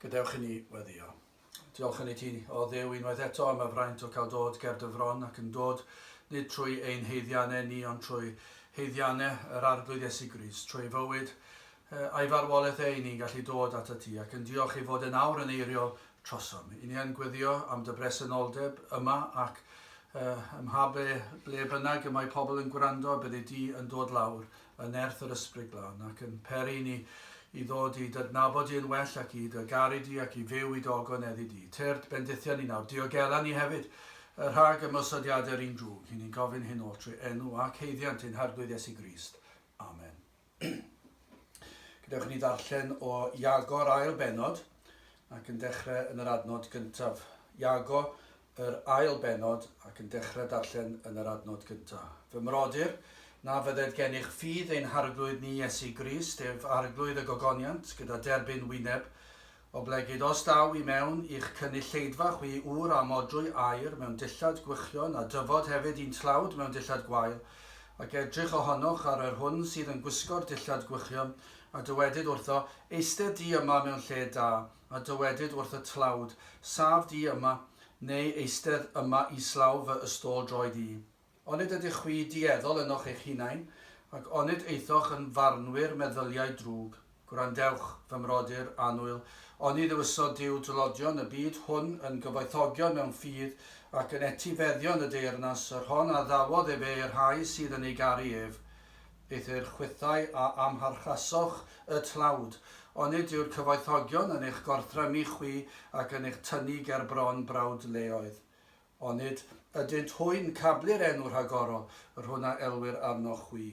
Gadewch i ni weddio. Diolch yn ei ti, o ddew unwaith eto am y fraint o cael dod ger dy fron ac yn dod, nid trwy ein heiddiannau ni, ond trwy heiddiannau yr Arglwydd Iesu Gris, trwy ei fywyd, Ei farwolaeth e, 'yn ni'n gallu dod atat ti ac yn diolch ei fod e'n awr yn eiriol trosom. 'Yn ni yn gweddio am dy bresenoldeb yma ac ym mha ble, ble bynnag y mae pobl yn gwrando, byddi di yn dod lawr yn nerth yr Ysbryd Glân ac yn peri i ni i ddod i d'adnabod di yn well ac i dy garu di ac i fyw i d'ogoneddu di. Tyrd bendithion ni nawr, diogela ni hefyd rhag ymosodiadau'r un drwg. 'Yn ni'n gofyn hyn o'r trwy enw ac haeddiant ein Harglwydd Iesu Grist. Amen. Gadewch i ni ddarllen o Iago'r ail benod ac yn dechrau yn yr adnod gyntaf. Iago, yr ail benod ac yn dechrau darllen yn yr adnod gyntaf. Fy mrodyr, na fydded gennych ffydd ein harglwydd ni Iesu Grist, ef arglwydd y gogoniant, gyda derbyn wyneb, Oblegid os daw i mewn i'ch cynulleidfa chwi ŵr â modrwy aur mewn dillad gwychion a dyfod hefyd un tlawd mewn dillad gwael, ac edrych ohonoch ar yr hwn sydd yn gwisgo'r dillad gwychion, a dywedid wrtho, Eistedd di yma mewn lle da, a dywedid wrth y tlawd, Saf di yma, neu eistedd yma islaw fy ystôl-droed i. Onid ydych chwi dueddol ynoch eich hunain, ac onid eithoch yn farnwyr meddyliau drwg? Gwrandewch, fy mrodyr annwyl, oni ddewisodd Duw dlodion y byd hwn yn gyfoethogion mewn ffydd, ac yn etifeddion y deyrnas, yr hon a ddawodd efe i'r rhai sydd yn ei garu ef? Eithr chwithau a amharchasoch y tlawd, onid yw'r cyfoethogion yn eich gorthrymu chwi ac yn eich tynnu ger bron brawd leoedd? Onid ydynt hwy'n cablu'r enw rhagorol yr hwn a elwir arnoch chwi?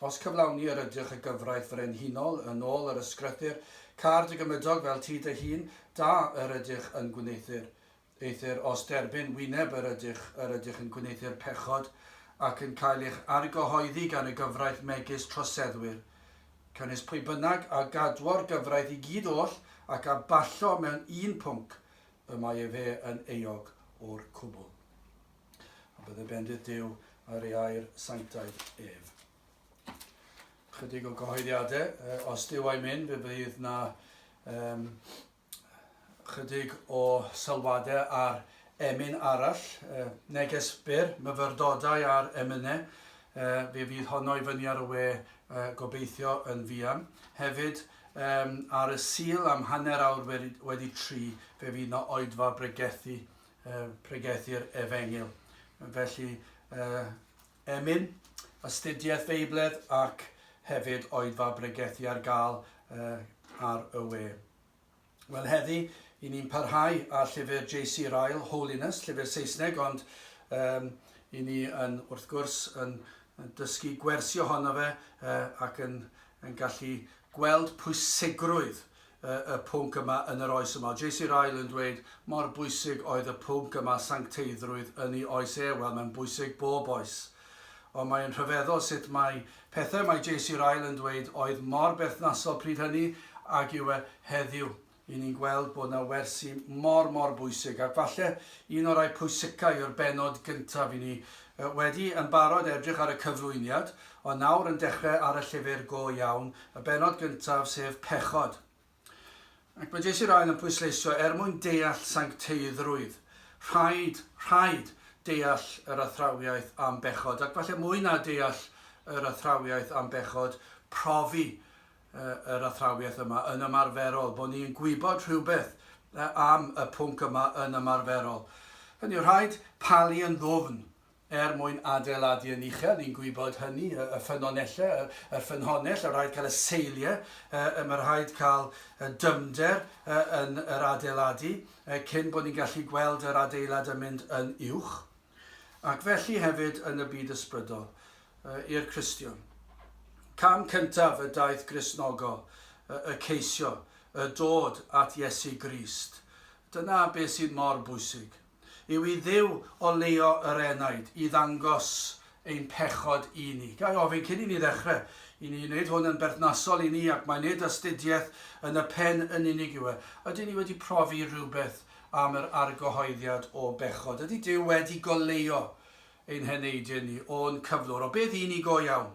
Os cyflawni yr ydych y gyfraith frenhinol, yn ôl yr ysgrythur, câr dy gymydog fel ti dy hun, da yr ydych yn gwneuthur. Eithr os derbyn wyneb yr ydych, yr ydych yn gwneuthur pechod, ac yn cael eich argyhoeddi gan y gyfraith megis troseddwyr. Cynys pwy bynnag a gadwo'r gyfraith i gyd oll, ac a ballo mewn un pwnc, y mae efe yn euog o'r cwbl. A bydde bendith Duw ar ei air sanctaidd ef. Chydig o gyhoeddiadau, uh, os Duw a'i mynd, fe bydd na um, chydig o sylwadau ar emyn arall, uh, neges byr, myfyrdodau ar emynau, uh, fe fydd honno i fyny ar y we uh, gobeithio yn fian. Hefyd, Yym, ar y Sul am hanner awr wedi, wedi tri, fe fydd 'na oedfa bregethu, yy, pregethu'r Efengyl. Felly, yy, emyn, astudiaeth Feibledd ac hefyd oedfa bregethu ar gael yy, ar y we. Wel heddi, i ni'n parhau â llyfr JC Ryle, Holiness, llyfr Saesneg, ond um, i ni yn, wrth gwrs, yn, yn dysgu gwersi ohono fe uh, ac yn, yn gallu gweld pwysigrwydd y pwnc yma yn yr oes yma. JC Ryle yn dweud mor bwysig oedd y pwnc yma sancteiddrwydd yn ei oes e. Wel, mae'n bwysig bob oes. Ond mae yn rhyfeddol sut mae pethau mae JC Ryle yn dweud oedd mor berthnasol pryd hynny ag yw e heddiw. Y'n ni'n gweld bod 'na wersi mor mor bwysig, ac falle un o rai pwysica yw'r bennod gyntaf i ni. Wedi yn barod edrych ar y cyflwyniad, ond nawr yn dechre ar y llyfr go iawn, y bennod gyntaf sef pechod. Ac mae Jessie Ryan yn pwysleisio, er mwyn deall sancteiddrwydd, rhaid, rhaid deall yr athrawiaeth am bechod, ac falle mwy na deall yr athrawiaeth am bechod, profi yr athrawiaeth yma yn ymarferol, bod ni'n gwybod rhywbeth am y pwnc yma yn ymarferol. Hynny yw, rhaid palu yn ddwfn er mwyn adeiladu yn uchel, ni'n gwybod hynny, y ffynonellau, yr, yr ffynhonnell, y rhaid cael y seiliau, y, y, mae rhaid cael y dyfnder y, yn yr adeiladu y, cyn bod ni'n gallu gweld yr adeilad yn mynd yn uwch. Ac felly hefyd yn y byd ysbrydol, y, i'r Cristion. Cam cyntaf y daith Gristnogol, y, y ceisio, y dod at Iesu Grist. Dyna beth sydd mor bwysig. yw i Dduw oleuo yr enaid i ddangos ein pechod i ni. Ga i ofyn cyn i ni ddechrau i ni wneud hwn yn berthnasol i ni ac mae nid astudiaeth yn y pen yn unig yw e. Ydyn ni wedi profi rhywbeth am yr argyhoeddiad o bechod? Ydy Duw wedi goleuo ein heneidiau ni o'n cyflwr? O beth i ni go iawn?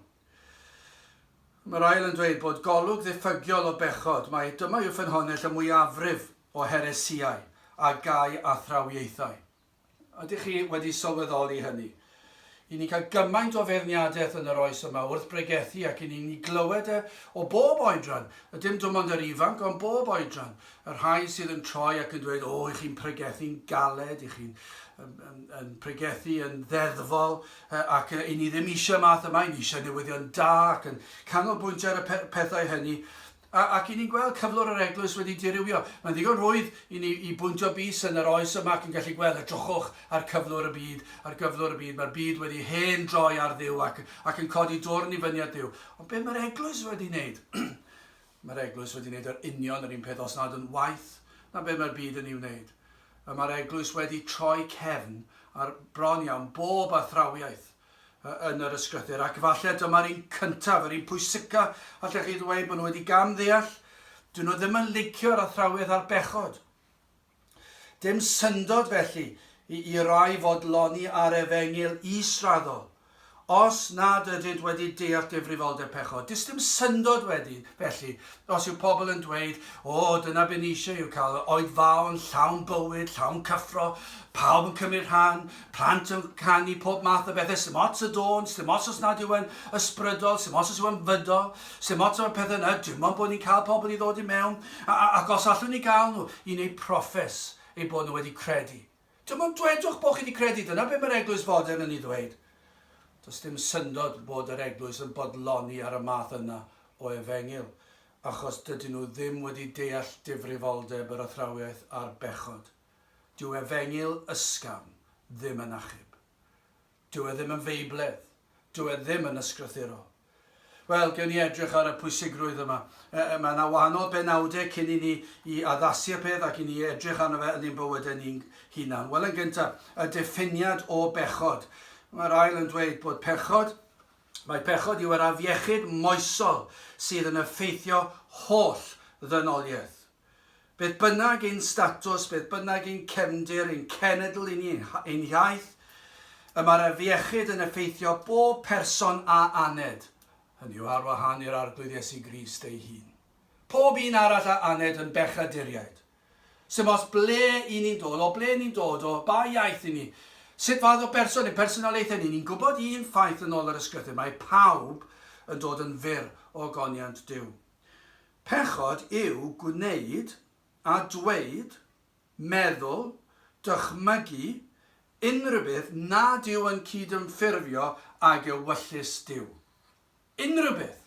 Mae'r ail yn dweud bod golwg ddiffygiol o bechod. Mae dyma yw ffynhonnell y mwyafrif o heresïau a gau athrawiaethau. Ydych chi wedi sylweddoli hynny? I ni cael gymaint o feirniadaeth yn yr oes yma wrth bregethu ac i ni ni glywed e o bob oedran, a dim dim ond yr ifanc ond bob oedran, y rhai sydd yn troi ac yn dweud o i chi'n pregethu'n galed, i chi'n yn, yn, yn pregethu yn ddeddfol ac i ni ddim eisiau math yma, i ni eisiau newyddion da ac yn canolbwyntio ar y pethau hynny A, ac i ni'n gweld cyflwr yr Eglwys wedi dirywio. Mae'n ddigon rhwydd i ni i bwyntio bys yn yr oes yma ac yn gallu gweld, edrychwch ar cyflwr y byd, ar gyflwr y byd, mae'r byd wedi hen droi ar Dduw ac, ac yn codi dwrn i fyny at Dduw. Ond be mae'r Eglwys wedi wneud? mae'r Eglwys wedi wneud yr union yr un peth, os nad yn waeth na be mae'r byd yn ei wneud. Mae'r Eglwys wedi troi cefn ar bron iawn bob athrawiaeth yn yr ysgrythur, ac falle dyma'r un cyntaf, yr un pwysica, allech chi ddweud bod nhw wedi gam ddeall, dyn nhw ddim yn licio yr athrawes a'r bechod. Dim syndod felly i, i rai fod loni ar efengyl israddol, os nad ydynt wedi deall difrifoldeb pechod. Dys dim syndod wedi, felly, Os yw pobl yn dweud, 'O, dyna be ni eisiau yw cael yr Oed Fawr yn llawn bywyd, llawn cyffro, pawb yn cymryd rhan, plant yn canu, pob math o bethau, sdim ots y dôn, sdim ots os nad yw e'n ysbrydol, sdim ots os yw e'n fydol, sdim ots am y pethau yna, dim ond bod ni'n cael pobl i ddod i mewn, ac os allwn ni gael nhw i wneud proffes eu bod nhw wedi credu. Dim ond dwedwch bod chi 'di credu, dyna be mae'r eglwys fodern yn ei ddweud. Does dim syndod bod yr eglwys yn bodloni ar y math yna o efengyl, achos dydyn nhw ddim wedi deall difrifoldeb yr athrawiaeth a'r bechod. Dyw efengyl ysgafn ddim yn achub. Dyw e ddim yn feibledd. Dyw e ddim yn ysgrythuro. Wel, gewn ni edrych ar y pwysigrwydd yma. E, e, mae yna wahanol benawdau cyn i ni i addasu'r peth ac i ni edrych arno fe yn ein bywydau ni'n hunan. Wel, yn gyntaf, y diffiniad o bechod. Mae'r ail yn dweud bod pechod Mae pechod yw yr afiechyd moesol sydd yn effeithio holl ddynoliaeth. Beth bynnag ein statws, beth bynnag ein cefndir, ein cenedl i ni, ein hiaith, y mae'r afiechyd yn effeithio bob person a aned, hynny yw ar wahân i'r Arglwydd Iesu Grist ei hun. Pob un arall a aned yn bechaduriaid. Sef os ble i ni'n dod, o ble ni'n dod, o ba iaith i ni, sut fath o berson, ein personoliaethau ni, ni'n gwybod un ffaith yn ôl yr ysgrythur, mae pawb yn dod yn fyr o goniant Duw. Pechod yw gwneud a dweud, meddwl, dychmygu, unrhywbeth nad yw yn cydymffurfio ag ewyllys Duw. Unrhywbeth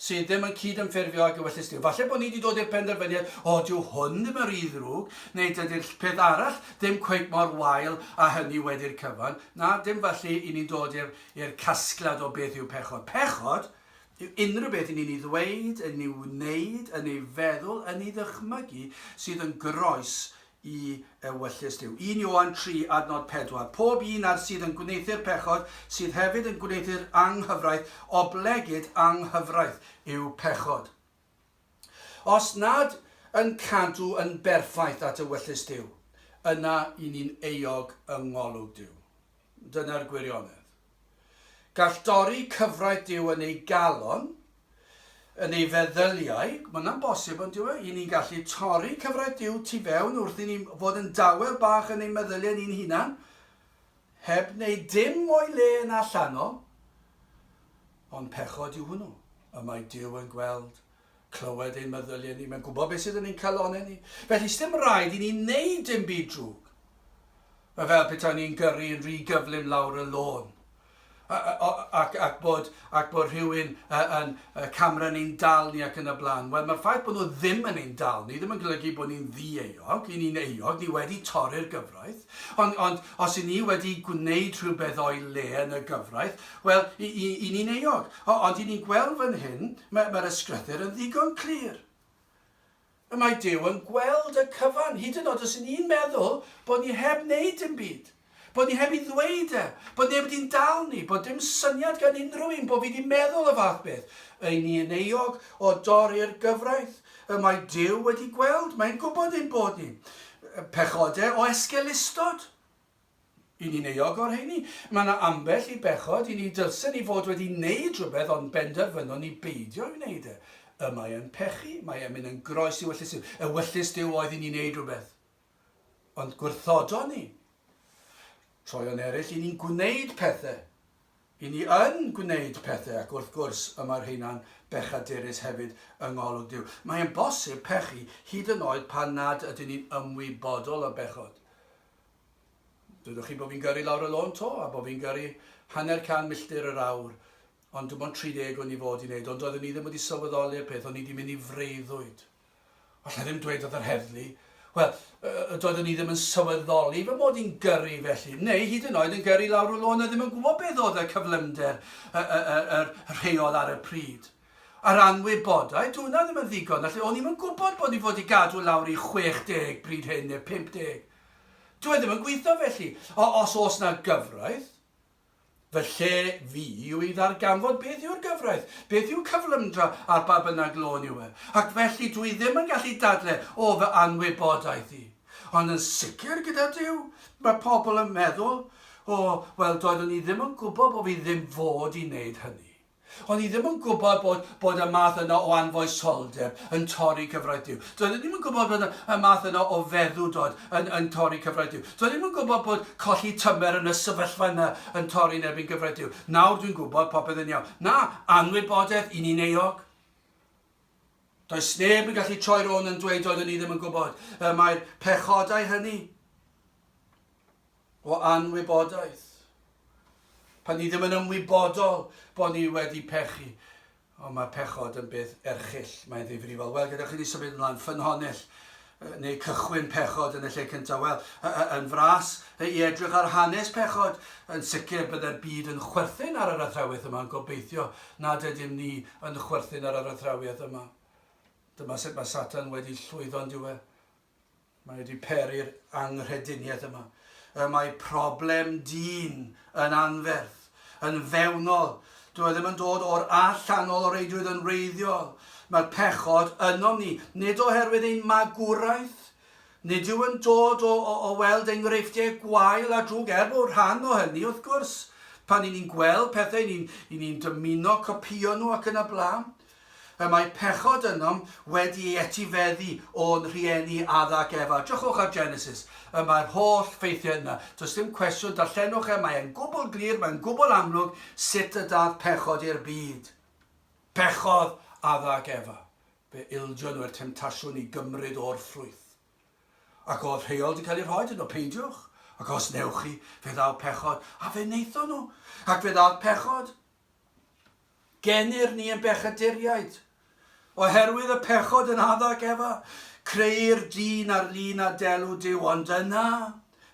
sydd ddim yn cydymffurfio ag ewyllys Duw. Falle bod ni wedi dod i'r penderfyniad, o, dyw hwn ddim yn rhy ddrwg, neu dydy'r peth arall ddim cweit mor wael â hynny wedi'r cyfan. Na, dim felly i ni'n dod i'r i'r casgliad o beth yw pechod. Pechod Dyw unrhyw beth i ni'n ei ddweud, yn ei wneud, yn ei feddwl, yn ei ddychmygu, sydd yn groes i ewyllys Duw. Un Ioan 3, adnod 4, Pob un ar sydd yn gwneuthur pechod, sydd hefyd yn gwneuthur anghyfraith, oblegid anghyfraith yw pechod. Os nad yn cadw yn berffaith at ewyllys Duw, yna i ni'n euog yng ngolwg Duw. Dyna'r gwirionedd. Gall dorri cyfraith Duw yn ei galon, yn ei feddyliau, mae hwnna'n bosib yn dyw e? I ni'n gallu torri cyfraith Duw tu fewn wrth i ni fod yn dawel bach yn ein meddyliau ni'n hunan, Heb wneud dim o'i le yn allanol, ond pechod yw hwnnw, y mae Duw yn gweld, clywed ein meddyliau ni, mae'n gwybod beth sydd yn ein calonnau ni, felly sdim rhaid i ni wneud dim byd drwg. Mae fel petawn ni'n gyrru yn rhy gyflym lawr y lôn. ac, ac bod, ac bod rhywun uh, yn uh, camera ni'n dal ni ac yn y blaen. Wel, mae'r ffaith bod nhw ddim yn ein dal ni, ddim yn golygu bod ni'n ddi-euog, i ni'n euog, ni wedi torri'r gyfraith. Ond, ond os i ni wedi gwneud rhywbeth o'i le yn y gyfraith, wel, i, i, i ni'n euog. O, ond i ni'n gweld fan hyn, mae'r mae ysgrythyr yn ddigon clir. Y mae Duw yn gweld y cyfan, hyd yn od os yn ni'n meddwl bod ni heb wneud dim byd, bod ni heb i ddweud e, bod neb wedi'n dal ni, bod dim syniad gan unrhyw un bod fi wedi meddwl y fath beth, y'n ni yn euog o dorri'r gyfraith, y mae Duw wedi gweld, mae'n gwybod ein bod ni'n pechodau o esgelustod. I ni'n euog o'r rheini. Mae yna ambell i bechod i ni dylsen ni fod wedi neud rhywbeth ond benderfynon ni beidio i wneud e. Y mae e'n pechu, mae e'n mynd yn groes i wyllys Duw. Ewyllys Duw oedd i ni wneud rhywbeth. Ond gwrthodon ni. Troeon eraill i ni'n gwneud pethau. I ni yn gwneud pethau ac wrth gwrs y mae'r rheina'n bechaderus hefyd yng ngolwg Duw. Mae e'n bosib pechu hyd yn oed pan nad ydyn ni'n ymwybodol o bechod. Dwedwch chi bo fi'n gyrru lawr y lôn to, a bo fi'n gyrru hanner can milltir yr awr, ond dim ond 30 o'n i fod i wneud, ond doeddwn i ddim wedi sylweddoli'r peth, o'n i 'di mynd i freuddwyd. Alla i ddim dweud wrth yr heddlu. Wel, yy, doeddwn i ddim yn sylweddoli fy mod i'n gyrru felly, neu hyd yn oed yn gyrru lawr y lôn a ddim yn gwybod beth oedd y cyflymder, y, y, y, y rheol ar y pryd. A'r anwybodaeth, dw hwnna ddim yn ddigon, felly o'n i'm yn gwybod bod ni fod i gadw lawr i 60 bryd hyn, neu 50. Dyw e ddim yn gweithio felly. O, os oes 'na gyfraith, fy lle fi yw i ddarganfod beth yw'r gyfraith, beth yw cyflymdra ar ba bynnag lôn yw e. Ac felly dw i ddim yn gallu dadle o fy anwybodaeth i. Ond yn sicr gyda Duw, mae pobl yn meddwl, 'O, wel, doeddwn i ddim yn gwybod bod fi ddim fod i wneud hynny. O'n i ddim yn gwybod bod, bod y math yna o anfoesoldeb yn torri cyfreithiw. Doeddwn i ddim yn gwybod bod y math yna o feddwdod yn, yn torri cyfreithiw. Doeddwn i ddim yn gwybod bod colli tymer yn y sefyllfa yna yn torri yn erbyn cyfreithiw. Nawr dwi'n gwybod popeth yn iawn. Na, anwybodaeth i ni'n euog. Does neb yn gallu troi rôn yn dweud doeddwn i ddim yn gwybod y mae'r pechodau hynny. o anwybodaeth, pan ni ddim yn ymwybodol bod ni wedi pechu, ond mae pechod yn beth erchyll, mae'n ddifrifol. Wel, gyda chi ni symud ymlaen, ffynhonnell, neu cychwyn pechod yn y lle cyntaf. Wel, yn fras i edrych ar hanes pechod, yn sicr byddai'r byd yn chwerthin ar yr athrawiaeth yma, yn gobeithio nad ydym ni yn chwerthin ar yr athrawiaeth yma. Dyma sut mae Satan wedi llwyddo'n diwedd. Mae wedi peri'r anghrediniaeth yma. Y mae problem dyn yn anferth, yn fewnol. Dw i ddim yn dod o'r allanol o reidrwydd yn wreiddiol. Mae'r pechod ynom ni, nid oherwydd ein magwraeth, Nid yw yn dod o, o, o weld enghreifftiau gwael a drwg, er bod rhan o hynny, wrth gwrs, pan i ni'n gweld pethau, ni'n ni, ni dymuno copïo nhw ac yn y blaen. Y mae pechod ynom wedi ei etifeddu o'n rhieni Adda ac Efa. Drychwch ar Genesis. Y mae'r holl ffeithiau yna. Does dim cwestiwn, darllenwch e, mae e'n gwbl glir, mae'n gwbl amlwg sut y dath pechod i'r byd. Pechodd Adda ac Efa. Fe ildio nhw i'r temtasiwn i gymryd o'r ffrwyth. Ac oedd rheol di cael ei rhoi iddyn nhw, peidiwch, ac os newch chi, fe ddaw pechod, a fe wnaethon nhw, ac fe ddath pechod. Gennyr ni yn bechaduriaid, oherwydd y pechod yn addag ef a creu'r dyn ar lun a delw Duw, ond yna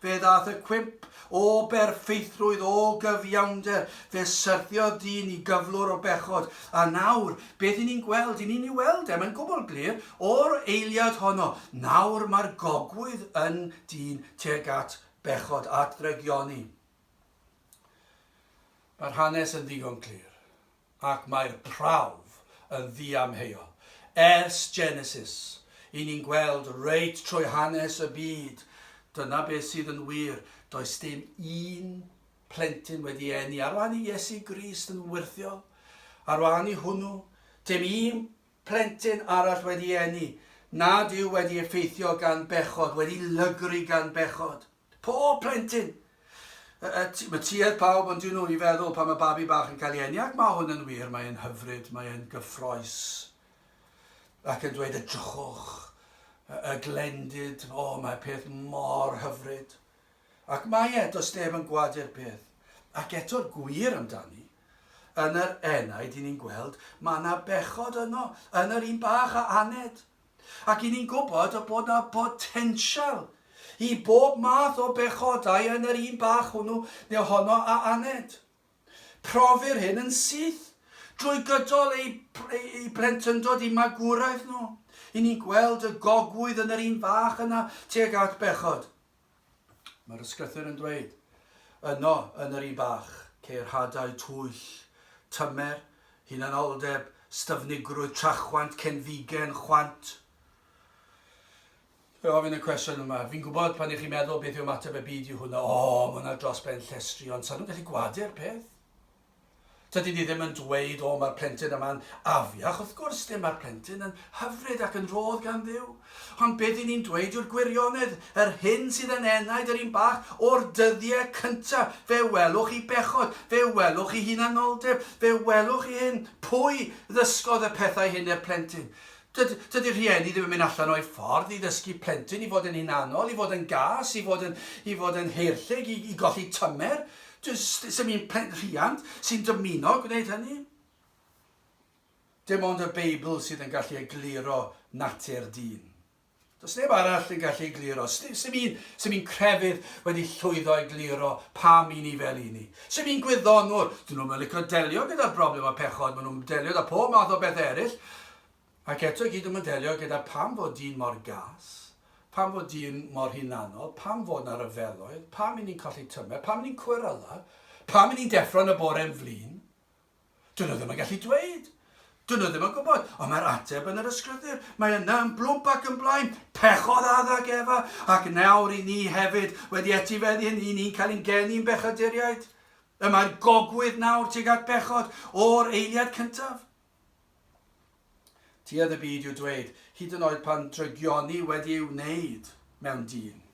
fe ddaeth y cwymp o berffeithrwydd, o gyfiawnder, fe syrthiodd dyn i gyflwr o bechod, a nawr, beth i ni'n gweld, i ni'n ei weld e, mae'n gwbl glir, o'r eiliad honno, nawr mae'r gogwydd yn dyn tuag at bechod, at ddrygioni. Mae'r hanes yn ddigon clir, ac mae'r prawf yn ddiamheuol. Ers Genesis, i ni'n gweld reit trwy hanes y byd. Dyna beth sydd yn wir. Does dim un plentyn wedi eni ar wahân i Iesu Grist yn wyrthiol, ar wahân i hwnnw. Dim un plentyn arall wedi eni, nad yw wedi effeithio gan bechod, wedi lygru gan bechod. Pob plentyn! Mae tuedd pawb ond un wy i feddwl pan mae babi bach yn cael ei eni, ac mae hwn yn wir, mae e'n hyfryd, mae e'n gyffroes. Ac yn dweud edrychwch, y glendid, o mae peth mor hyfryd. Ac mae e, does neb yn gwadu'r peth. Ac eto'r gwir amdani, yn yr enaid i ni'n gweld, mae yna bechod yno, yn yr un bach a aned. Ac i ni'n gwybod y bod 'na botensial i bob math o bechodau yn yr un bach hwnnw neu honno a aned. Profir hyn yn syth drwy gydol eu eu plentyndod i magwraeth nhw, i ni'n gweld y gogwydd yn yr un fach yna tuag at bechod. Mae'r ysgrythur yn dweud, Yno, yn yr i bach, ceir hadau twyll, tymer, hunanoldeb, styfnigrwydd, trachwant, cenfigen, chwant. Fe ofyn y cwestiwn yma, fi'n gwybod pan i chi'n meddwl beth yw ymateb y byd i hwnna, o, mae hwnna dros ben llestri, ond sa'n nhw'n gallu gwadu'r peth? Tydi di ddim yn dweud o ma'r plentyn yma'n afiach, wrth gwrs ddim ma'r plentyn yn hyfryd ac yn rhodd gan Dduw. Ond be dyn ni'n dweud yw'r gwirionedd, yr hyn sydd yn enaid yr un bach o'r dyddie cynta, fe welwch chi bechod, fe welwch chi hunanoldeb, fe welwch chi hyn, pwy ddysgodd y pethau hyn i'r plentyn? Dyd, dydi'r rhieni ddim yn mynd allan o'u ffordd i ddysgu plentyn i fod yn hunanol, i fod yn gas, i fod yn, i fod yn heirllig, i, i golli tymer. Does dim un plenrhiant sy'n dymuno gwneud hynny. Dim ond y Beibl sydd yn gallu egluro natur dyn. Does neb arall yn gallu egluro. Sim un, sim un crefydd wedi llwyddo egluro pam i ni fel i ni. Sim un gwyddonwr, dyn nhw'n licio delio gyda'r broblem o pechod, maen nhw'n delio da pob math o bethau eraill. Ac eto i gyd dwi'm yn delio gyda pam fod dyn mor gas, pam fod dyn mor hunanol, pam fod 'na ryfeloedd, pam 'yn ni'n colli tymer, pam 'yn ni'n cweryla, pam 'yn ni'n deffro yn y bore yn flin. Dyn nhw ddim yn gallu dweud. Dyn nhw ddim yn gwybod, ond mae'r ateb yn yr ysgrythur. Mae yna yn blwmp ac yn blaen. Pechodd Adda ac Efa, ac nawr i ni hefyd, wedi etifeddu hyn, i ni'n cael ein geni'n bechaduriaid. Y mae'r gogwydd nawr tuag at bechod, o'r eiliad cyntaf. Tuedd y byd i'w dweud, hyd yn oed pan drygioni wedi ei wneud mewn dyn.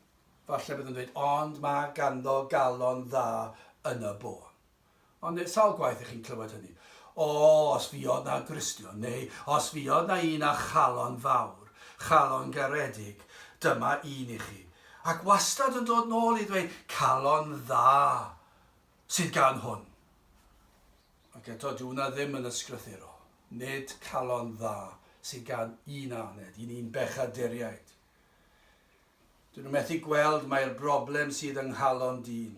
Falle bydd yn dweud, ond mae ganddo galon dda yn y bôn. Ond neu sawl gwaith ych chi'n clywed hynny. O, os fi oedd na Gristion, neu os fi oedd na un â chalon fawr, chalon garedig, dyma un i chi. Ac wastad yn dod nôl i ddweud, calon dda. sydd gan hwn. Ac eto, dyw hwnna ddim yn ysgrythuro. Nid calon dda sydd gan un aned, i ni'n bechaduriaid. Dyn nhw methu gweld mai'r broblem sydd yng nghalon dyn.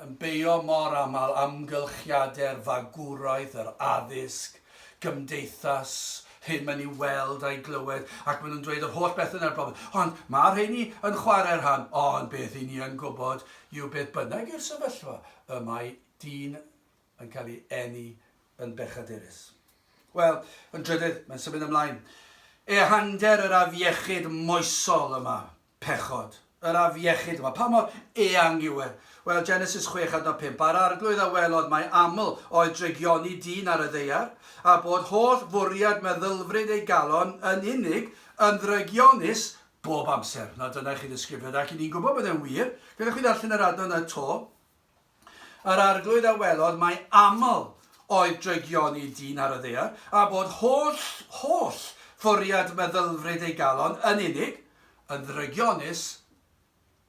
Yn beio mor aml amgylchiadau'r fagwraeth, yr addysg, gymdeithas hyn mae'n i'w weld a'i glywed ac maen nhw'n dweud yr holl bethau yna'r broblem. Ond mae rheini yn chwarae'r rhan, ond beth i ni yn gwybod yw beth bynnag yw'r sefyllfa, y mae dyn yn cael ei eni yn bechaderus. Wel, yn drydydd, mae'n symud ymlaen. Ehangder yr afiechyd moesol yma. Pechod. Yr afiechyd yma. Pa mor eang yw e? Wel, Genesis chwech adnod pump, A'r arglwydd a welodd mai aml oedd drygioni dyn ar y ddaear, a bod holl fwriad meddylfryd ei galon yn unig yn ddrygionus bob amser. Nawr, dyna i chi ddisgrifiad, ac 'y ni'n gwybod bod e'n wir. Gadewch i fi ddarllen yr adnod 'na 'to. Yr Arglwydd a welodd mai aml oedd drygioni dyn ar y ddaear, a bod holl, holl, fwriad meddylfryd ei galon yn unig, yn ddrygionus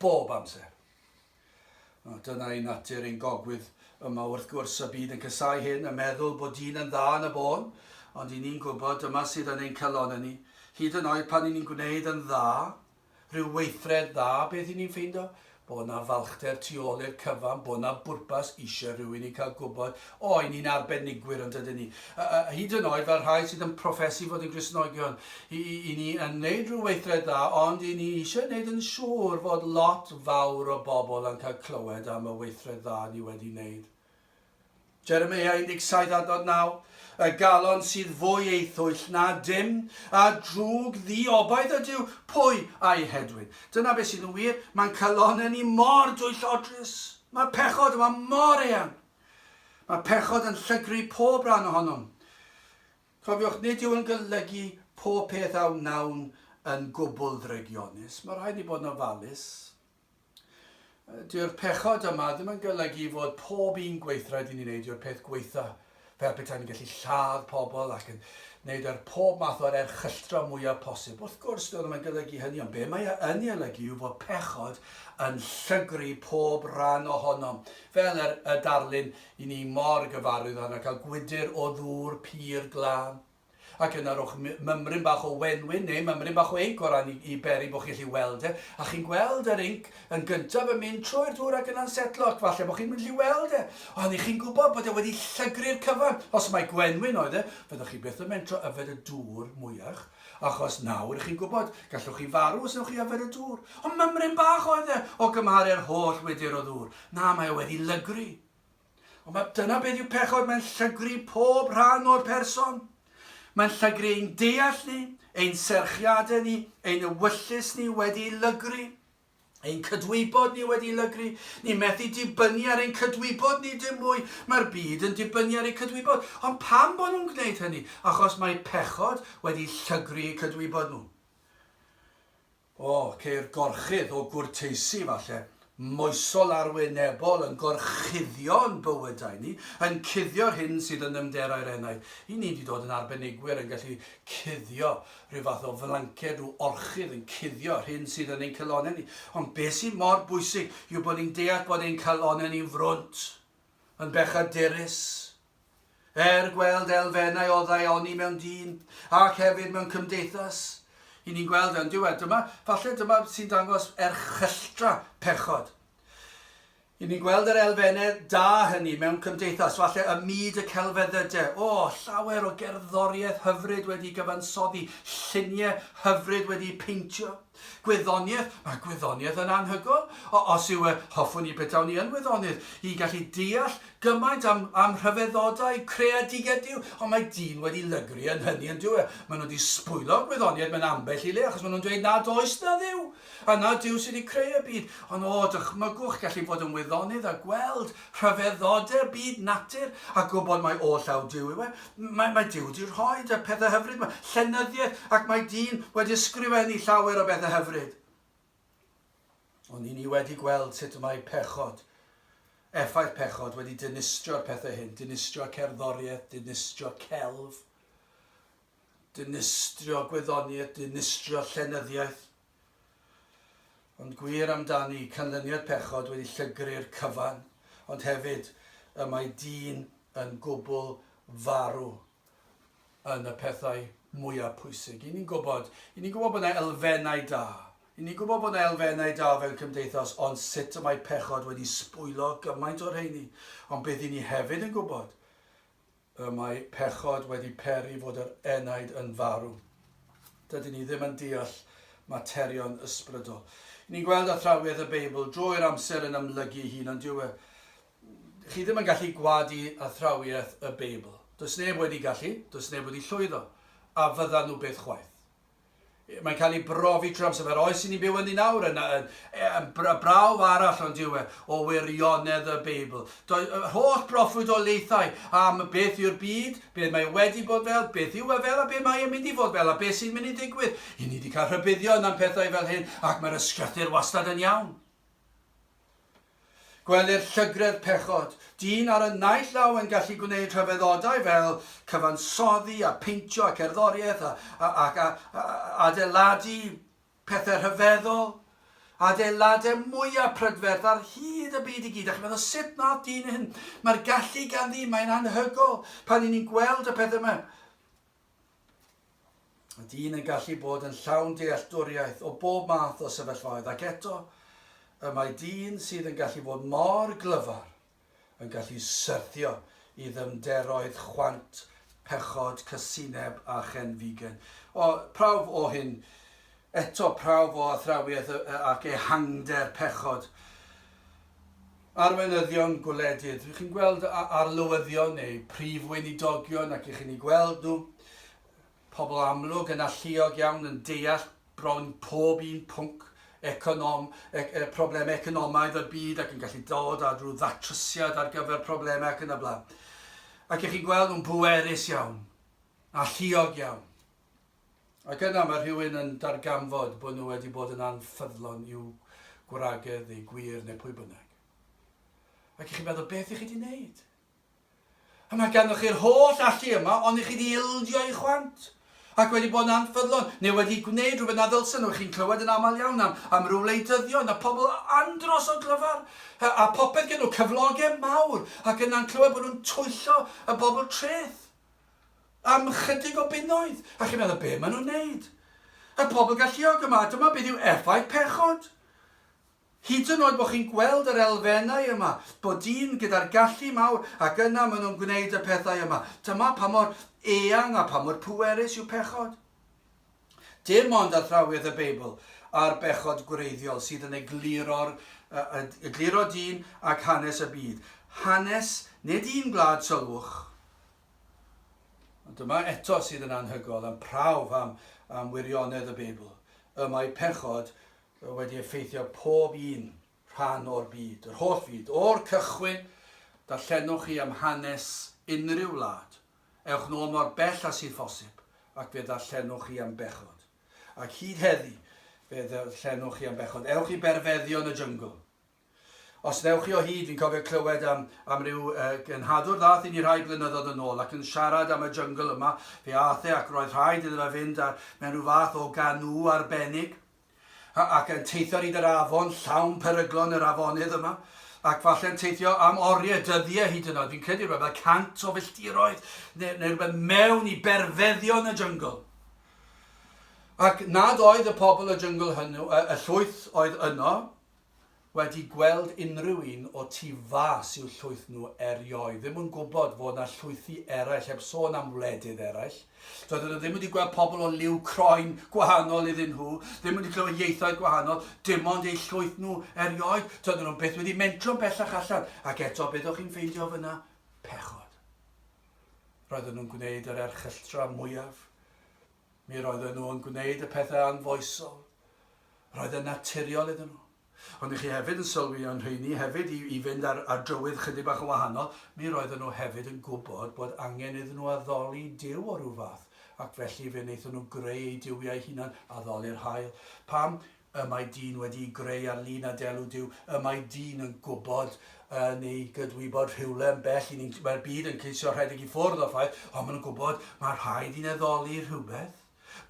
bob amser. O, dyna ei natur ein gogwydd yma wrth gwrs, y byd yn casau hyn, y meddwl bod dyn yn dda yn y bôn, ond i ni'n gwybod dyma sydd yn ein calon ni, hyd yn oed pan i ni'n gwneud yn dda, Rhyw weithred dda beth i ni'n ffeindo? Bod 'na falchder tu ôl i'r cyfan, bod 'na bwrpas, isie rhywun i cael gwybod, o, 'yn ni'n arbenigwyr yndydyn ni. Hyd yn oed fel rhai sydd yn proffesu fod yn Gristnogion, 'yn ni yn neud rhyw weithred dda ond 'yn ni isie neud yn siŵr fod lot fawr o bobl yn cael clywed am y weithred dda ni wedi neud. Jeremia 17 a dod 9, Y galon sydd fwy ei thwyll na dim, a drwg ddiobaith ydyw, pwy a'i hedwyn? Dyna beth sydd yn wir, mae'n calonnau ni mor dwyllodrus. Mae pechod yma mor eang. Mae pechod yn llygru pob rhan ohonom. Cofiwch, nid yw yn golygu pob peth a wnawn yn gwbl ddrygionus. Mae rhaid ni bod yn ofalus. Dyw'r pechod yma ddim yn golygu fod pob un gweithred i ni'n ei wneud yw'r peth gwaetha', fel petaen ni'n gallu lladd pobl ac yn wneud yr pob math o'r erchylltra' mwyaf posib. Wrth gwrs, dyw e ddim yn golygu hynny, ond be' mae e yn ei olygu yw fod pechod yn llygru pob rhan ohonom, fel yr y darlun 'yn ni mor gyfarwydd â hwnna, cael gwydr o ddŵr pur glân. Ac yna rhowch mymryn bach o wenwyn neu mymryn bach o inc o ran i, i beri bod chi'n gallu weld e, a chi'n gweld yr inc yn gyntaf yn mynd trwy'r dŵr ac yna'n setlo, ac falle bod chi'n mynd i weld e, ond i chi'n gwybod bod e wedi llygru'r cyfan. Os mai gwenwyn oedd e, fyddwch chi byth yn mentro yfed y dŵr mwyach, achos nawr i chi'n gwybod, gallwch chi farw os ewch chi yfed y dŵr. Ond mymryn bach oedd e, o gymharu'r holl wydr o ddŵr. Na, mae e wedi lygru. Ond mae dyna beth yw pechod, mae'n llygru pob rhan o'r person. Mae'n llygru ein deall ni, ein serchiadau ni, ein ewyllys ni wedi lygru, ein cydwybod ni wedi lygru, ni methu dibynnu ar ein cydwybod ni dim mwy, mae'r byd yn dibynnu ar ei cydwybod. Ond pam bod nhw'n gwneud hynny? Achos mae pechod wedi llygru eu cydwybod nhw. O, ceir gorchudd o gwrteisi, falle, moesol arwynebol yn gorchuddio'n bywydau ni, yn cuddio'r hyn sydd yn nymderau'r enaid. I ni 'di dod yn arbenigwyr yn gallu cuddio, rhyw fath o flanced, rhyw orchudd yn cuddio'r hyn sydd yn ein calonnau ni. Ond beth sydd mor bwysig yw bod ni'n deall bod ein calonnau ni'n frwnt, yn bechaderus, Er gweld elfennau o ddaioni mewn dyn, ac hefyd mewn cymdeithas, i ni'n gweld yn diwedd, dyma, falle dyma sy'n dangos erchylltra pechod. I ni'n gweld yr elfennau da hynny mewn cymdeithas, falle ym myd y celfeddyde. O, llawer o gerddoriaeth hyfryd wedi gyfansoddi, lluniau hyfryd wedi peintio. Gwyddoniaeth, mae gwyddoniaeth yn anhygoel. O, os yw e, hoffwn i betawn i yn wyddonydd, i gallu deall gymaint am, am rhyfeddodau, creadigedd Duw, ond mae dyn wedi lygru yn hynny yn dyw e. Maen nhw wedi sbwylo gwyddoniaeth mewn ambell i le, achos maen nhw'n dweud nad oes na Dduw, a na Duw sydd wedi creu y byd. Ond o, dychmygwch gallu bod yn wyddonydd a gweld rhyfeddode byd natur, a gwybod mai o llaw Duw yw e, mae, mae Duw wedi rhoi y pethau hyfryd yma, llenyddiaeth, ac mae dyn wedi ysgrifennu llawer o bethau hyfryd. Ond i ni wedi gweld sut mae pechod, effaith pechod wedi dinistrio'r pethau hyn, dinistrio cerddoriaeth, dinistrio celf, dinistrio gwyddoniaeth, dinistrio llenyddiaeth, Ond gwir amdani, canlyniad pechod wedi llygru'r cyfan, ond hefyd y mae dyn yn gwbl farw yn y pethau mwyaf pwysig. I ni'n gwybod, i ni'n gwybod bod yna elfennau da. I ni'n gwybod bod yna elfennau da fel cymdeithas, ond sut y mae pechod wedi sbwylo gymaint o'r rheini. Ond bydd i ni hefyd yn gwybod Y mae pechod wedi peri fod yr enaid yn farw. Dydyn ni ddim yn deall materion ysbrydol. Ni'n gweld athrawiaeth y Beibl drwy'r amser yn ymlygu ei hun, ond dyw e... Chi ddim yn gallu gwadu athrawiaeth y Beibl. Does neb wedi gallu, does neb wedi llwyddo, a fyddan nhw byth chwaith. Mae'n cael ei brofi trwy amser fel oes i ni'n byw ynddi nawr, yn, yn, yn brawf arall ond yw e o wirionedd y Beibl. Doedd yr holl broffwydoliaethau am beth yw'r byd, beth mae wedi bod fel, beth yw e fel a beth mae e'n mynd i fod fel a beth sy'n mynd i ddigwydd. I ni wedi cael rhybuddion am pethau fel hyn ac mae'r ysgrythyr wastad yn iawn. Gwelir llygredd pechod, dyn ar y naill law yn gallu gwneud rhyfeddodau fel cyfansoddi a pheintio a cerddoriaeth a, a, ac a, a, adeiladu pethau rhyfeddol, adeiladau mwyaf prydferth ar hyd y byd i gyd. A chi'n meddwl, sut nath dyn hyn? Mae'r gallu ganddi, mae'n anhygoel pan i ni'n gweld y pethau yma. Mae dyn yn gallu bod yn llawn dealltwriaeth o bob math o sefyllfaoedd ac eto y mae dyn sydd yn gallu fod mor glyfar yn gallu syrthio i ddyfnderoedd chwant, pechod, casineb a chen figan. O, prawf o hyn, eto prawf o athrawiaeth ac ehangder pechod. Arweinyddion gwledydd, rydych chi'n gweld arlywyddion neu prif weinidogion ac rydych chi'n eu gweld nhw, pobl amlwg yn alluog iawn yn deall bron pob un pwnc econom, e, e, problemau economaidd y byd ac yn gallu dod â rhyw ddatrysiad ar gyfer problemau ac yn y blaen. Ac ych chi'n gweld nhw'n bwerus iawn, alluog iawn. Ac yna mae rhywun yn darganfod bod nhw wedi bod yn anffyddlon i'w gwragedd neu gwir neu pwy bynnag. Ac i chi meddwl, beth i chi di wneud? A mae ganddo chi'r holl allu yma, ond i chi di ildio i chwant ac wedi bod yn anffyddlon, neu wedi gwneud rhywbeth na ddylsen nhw. Chi'n clywed yn aml iawn am, am ryw wleidyddion a pobl andros o glyfar, a, a popeth gen nhw, cyflogau mawr, ac yna'n clywed bod nhw'n twyllo y bobl treth. am ychydig o bunnoedd, a chi'n meddwl, be maen nhw'n wneud? Y pobl galluog yma, dyma beth yw effaith pechod. Hyd yn oed bod chi'n gweld yr elfennau yma, bod dyn gyda'r gallu mawr, ac yna maen nhw'n gwneud y pethau yma. Dyma pa mor eang a pa mor pwerus yw pechod. Dim ond athrawiaeth y Beibl a'r bechod gwreiddiol sydd yn egluro'r egluro dyn ac hanes y byd. Hanes, nid un gwlad, sylwch. Ond dyma eto sydd yn anhygol yn prawf am, am wirionedd y Beibl. Y mae pechod wedi effeithio pob un rhan o'r byd, yr holl fyd, o'r cychwyn, darllenwch chi am hanes unrhyw wlad, Ewch nôl mor bell â sydd phosib, ac fe ddarllenwch chi am bechod. Ac hyd heddi, fe ddarllenwch chi am bechod. Ewch i berfeddion y jyngl. Os ddewch chi o hyd, fi'n cofio clywed am, am ryw uh, gynhadwr ddath i ni rhai blynyddoedd yn ôl ac yn siarad am y jyngl yma, fe ath e ac roedd rhaid iddo fe fynd ar, mewn rhyw fath o ganŵ arbennig. Ac yn teithio ar hyd yr afon, llawn peryglon yr afonydd yma, ac falle yn teithio am oriau, dyddiau hyd yn oed, fi'n credu rhywbeth fel cant o filltiroedd, neu, neu rhywbeth mewn i berfeddion y jyngl. Ac nad oedd y pobl y jyngl hynny, y llwyth oedd yno, wedi gweld unrhyw un o tu fas i'w llwyth nhw erioed, ddim yn gwybod fod 'na llwythi eraill, heb sôn am wledydd eraill. Doedden nhw ddim wedi gweld pobl o liw croen gwahanol iddyn nhw, ddim wedi clywed ieithoedd gwahanol, dim ond eu llwyth nhw erioed. Doedden nhw byth wedi mentro'n bellach allan, ac eto beth o'ch chi'n ffeindio fyna? Pechod. Roedden nhw'n gwneud yr erchylltra mwyaf Mi roedden nhw yn gwneud y pethau anfoesol. Roedd yn naturiol iddyn nhw. Ond i chi hefyd yn sylwi yn rheini hefyd i, i fynd ar, ar drywydd chydig bach yn wahanol, mi roedden nhw hefyd yn gwybod bod angen iddyn nhw addoli Duw o rhyw fath, ac felly fe wnaethon nhw greu eu duwiau hunan, addoli'r haul. Pam? Y mae dyn wedi'i greu ar lun a delw Duw. Y mae dyn yn gwybod yn ei gydwybod rhywle yn bell i ni'n... Mae'r byd yn ceisio rhedeg i ffwrdd o'r ffaith, ond maen nhw'n gwybod mae rhaid i'n addoli rhywbeth,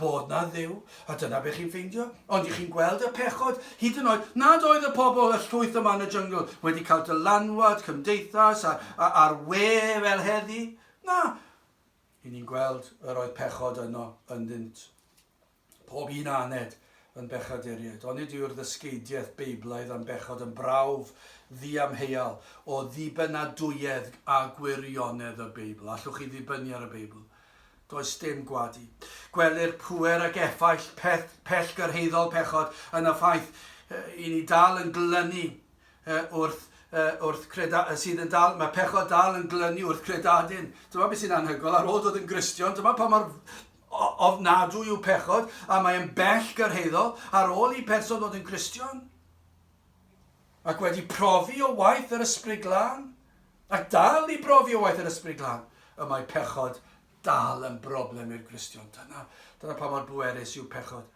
bod na Dduw, a dyna be chi'n ffeindio. Ond i chi'n gweld y pechod, hyd yn oed nad oedd y pobl, y llwyth yma yn y jyngl, wedi cael dylanwad cymdeithas ar, ar, ar we fel heddi? Na. I ni'n gweld yr oedd pechod yno ynddynt. pob un aned yn bechaduriaid. Onid yw'r ddysgeidiaeth Beiblaidd am bechod yn brawf ddiamheuol o ddibynadwyedd a gwirionedd y Beibl? Allwch chi ddibynnu ar y Beibl? Does dim gwadu. Gwelir pŵer ac effaith peth pellgyrhaeddol pechod yn y ffaith i ni dal yn glynu wrth wrth creda, sydd yn dal, mae pechod dal yn glynu wrth credadyn. Dyma beth sy'n anhygoel, ar ôl dod yn Gristion, dyma pa mor Ofnadwy yw pechod, a mae yn bell gyrhaeddol, ar ôl i berson ddod yn Gristion, ac wedi profi o waith yr Ysbryd Glân, ac dal i brofi o waith yr Ysbryd Glân, y mae pechod dal yn broblem i'r Gristion. Dyna, dyna pa mor bwerus yw pechod.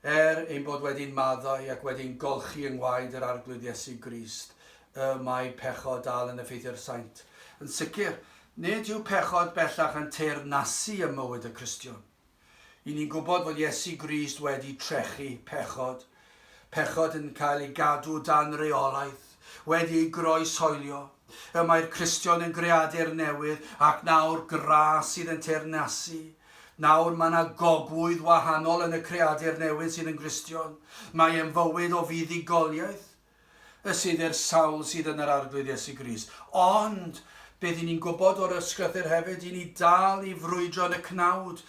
Er ein bod wedi'n maddau ac wedi'n golchi yng ngwaed yr Arglwydd Iesu Grist, y mae pechod dal yn effeithio ar saint. Yn sicr, nid yw pechod bellach yn teyrnasu ym mywyd y Cristion. I ni'n gwybod fod Iesu Grist wedi trechu pechod, pechod yn cael ei gadw dan reolaeth, wedi ei groeshoelio. Y mae'r Cristion yn greadur newydd ac nawr gra sydd yn teyrnasu. Nawr mae yna gogwydd wahanol yn y creadur newydd sydd yn Gristion. Mae e'n fywyd o fuddugoliaeth y sydd i'r sawl sydd yn yr Arglwydd Iesu Grist. Ond, beth i ni'n gwybod o'r Ysgrythur hefyd, i ni dal i frwydro yn y cnawd,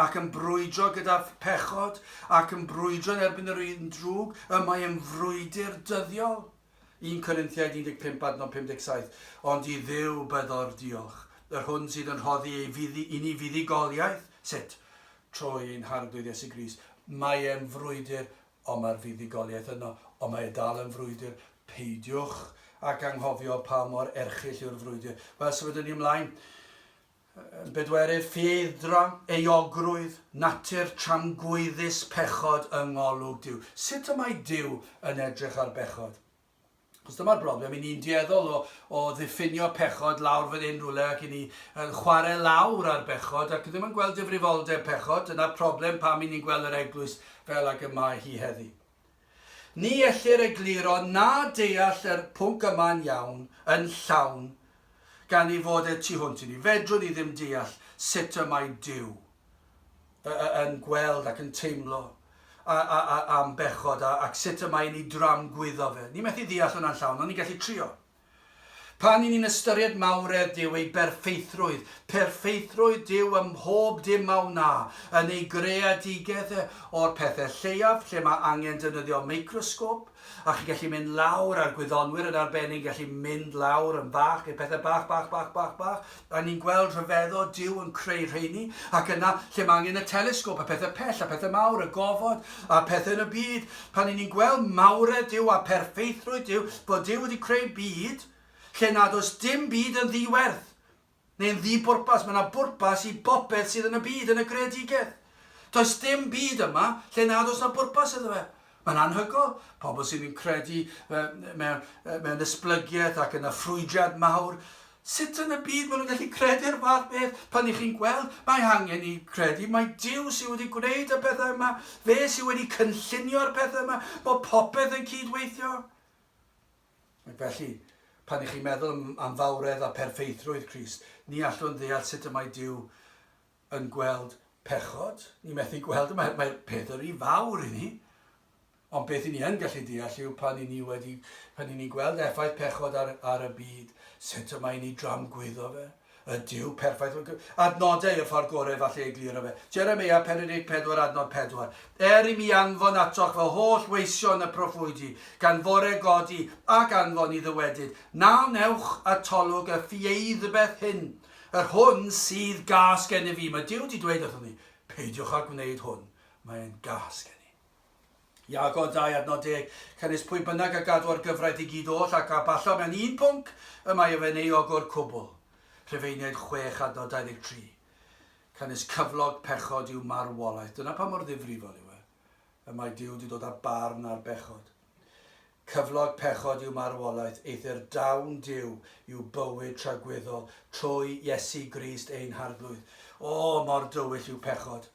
ac yn brwydro gyda phechod, ac yn brwydro yn erbyn yr un drwg, y mae yn frwydr dyddiol. 1 Corinthiaid 15 adnod 57 Ond i Dduw byddo'r diolch, yr hwn sydd yn rhoddi ei fuddi, i ni fuddugoliaeth, sut? Trwy ein harglwydd Iesu Grist. Mae e'n frwydr, ond mae'r fuddugoliaeth yno, ond mae e dal yn frwydr. Peidiwch ac anghofio pa mor erchyll yw'r frwydr. Wel, sefydlwn ni ymlaen. Yn bedwerydd, ffieldra, euogrwydd, natur tramgwyddus pechod yng ngolwg Duw. Sut y mae Duw yn edrych ar bechod? Os dyma'r broblem, i ni'n dueddol o, o ddiffinio pechod lawr fan hyn rhywle ac i ni yn chwarae lawr ar bechod ac ddim yn gweld difrifoldeb pechod, dyna'r problem pam i ni'n gweld yr eglwys fel ag y mae hi heddi. Ni ellir egluro na deall yr pwnc yma'n iawn, yn llawn, gan ei fod e tu hwnt i ni. Fedrwn ni ddim deall sut y mae Duw y, y, yn gweld ac yn teimlo a, a, a, am bechod a, ac sut y mae e'n ei dramgwyddo fe. Ni methu ddeall hwnna'n llawn, ond ni'n gallu trio. Pan 'yn ni'n ystyried mawredd Duw, ei berffeithrwydd, perffeithrwydd Duw ym mhob dim a wna, yn ei greadigedd e, o'r pethe lleiaf lle mae angen defnyddio microsgôp, a chi'n gallu mynd lawr, a'r gwyddonwyr yn arbennig yn gallu mynd lawr yn fach, i'r pethe bach, bach, bach, bach, bach, R'yn ni'n gweld rhyfeddod Duw yn creu rheini, ac yna, lle mae angen y telesgôp, a pethau pell, a pethau mawr, y gofod, a pethau yn y byd, pan ry'n ni'n gweld mawredd Duw a pherffeithrwydd Duw, bod Duw wedi creu byd lle nad oes dim byd yn ddi-werth, neu'n ddi-bwrpas, mae yna bwrpas i bopeth sydd yn y byd, yn y greadigaeth. Does dim byd yma lle nad oes yna bwrpas iddo fe. Mae'n anhygoel, pobl sydd yn credu mewn esblygiaeth ac yna ffrwydrad mawr, sut yn y byd maen nhw'n gallu credu ar y fath beth pan ych chi'n gweld, mae angen ni credu mai Duw sydd wedi gwneud y pethau yma, fe sydd wedi cynllunio'r pethau yma, bod popeth yn cyd-weithio. Ac felly, pan ych chi'n meddwl am fawredd a pherffeithrwydd Crist, ni allwn ddeall sut y mae Duw yn gweld pechod, ni'n methu gweld, mae, mae peth yr un fawr i ni, ond beth i ni yn gallu deall yw pan i ni wedi, pan i ni gweld effaith pechod ar, ar y byd, sut y mae ni dramgwyddo fe, y diw perffaith, adnodau y ffordd gorau falle ei glir o fe. Jeremia 44 adnod 4. Er i mi anfon atoch fy holl weision y proffwydi, gan fore godi ac anfon i ddywedyd, na wnewch atolwg y ffieidbeth hyn, Yr hwn sydd gas gennyf fi. Mae Duw wedi dweud wrthom ni, peidiwch â gwneud hwn, mae e'n gas gen i. Iago 2 ad nod deg, Canys pwy bynnag a gadw ar gyfraith i gyd oll ac a ballo mewn un pwnc, y mae ef yn ei ogwr cwbl. Rhufeiniaid 6 ad nod 23, Canys cyflog pechod yw marwolaeth. Dyna pa mor ddifrifol yw e. Y mae Duw wedi dod â barn ar bechod. Cyflog pechod yw marwolaeth, eithr dawn Duw yw bywyd tragwyddol trwy Iesu Grist ein Harglwydd. O, mor dywyll yw pechod!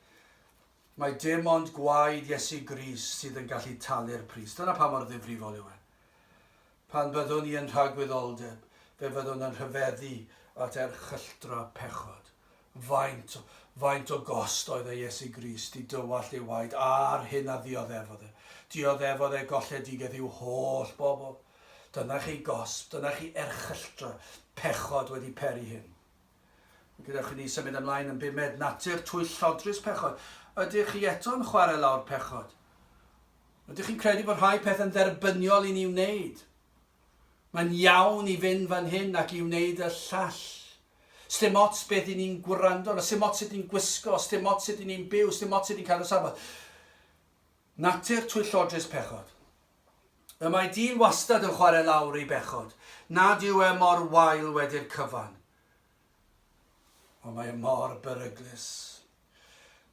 Mae dim ond gwaed Iesu Grist sydd yn gallu talu'r pris. Dyna pa mor ddifrifol yw e. Pan fyddwn ni yn rhagwyddoldeb, fe fyddwn yn rhyfeddu at erchylltra pechod. Faint, faint o gost oedd e Iesu Grist i dywallt ei waed a'r hyn a ddioddefodd e. Dioddefodd e golledigaeth i'w holl bobl. Dyna chi gosb, dyna chi erchylltra, pechod wedi peri hyn. Gadewch i ni symud ymlaen yn bumed, natur twyllodrus pechod. Ydych chi eto'n chwarae lawr pechod? Ydych chi'n credu bod rhai pethau'n dderbyniol i ni wneud? Mae'n iawn i fynd fan hyn ac i wneud y llall. Sdim ots beth i ni'n gwrando arno, sdim ots sut ni'n gwisgo, sdim ots sut i ni'n byw, sdim ots sut ni'n cadw safbwynt. Natur twyllodrus pechod. Y mae dyn wastad yn chwarae lawr ei bechod. Nad yw e mor wael wedi'r cyfan. Ond mae e mor beryglus.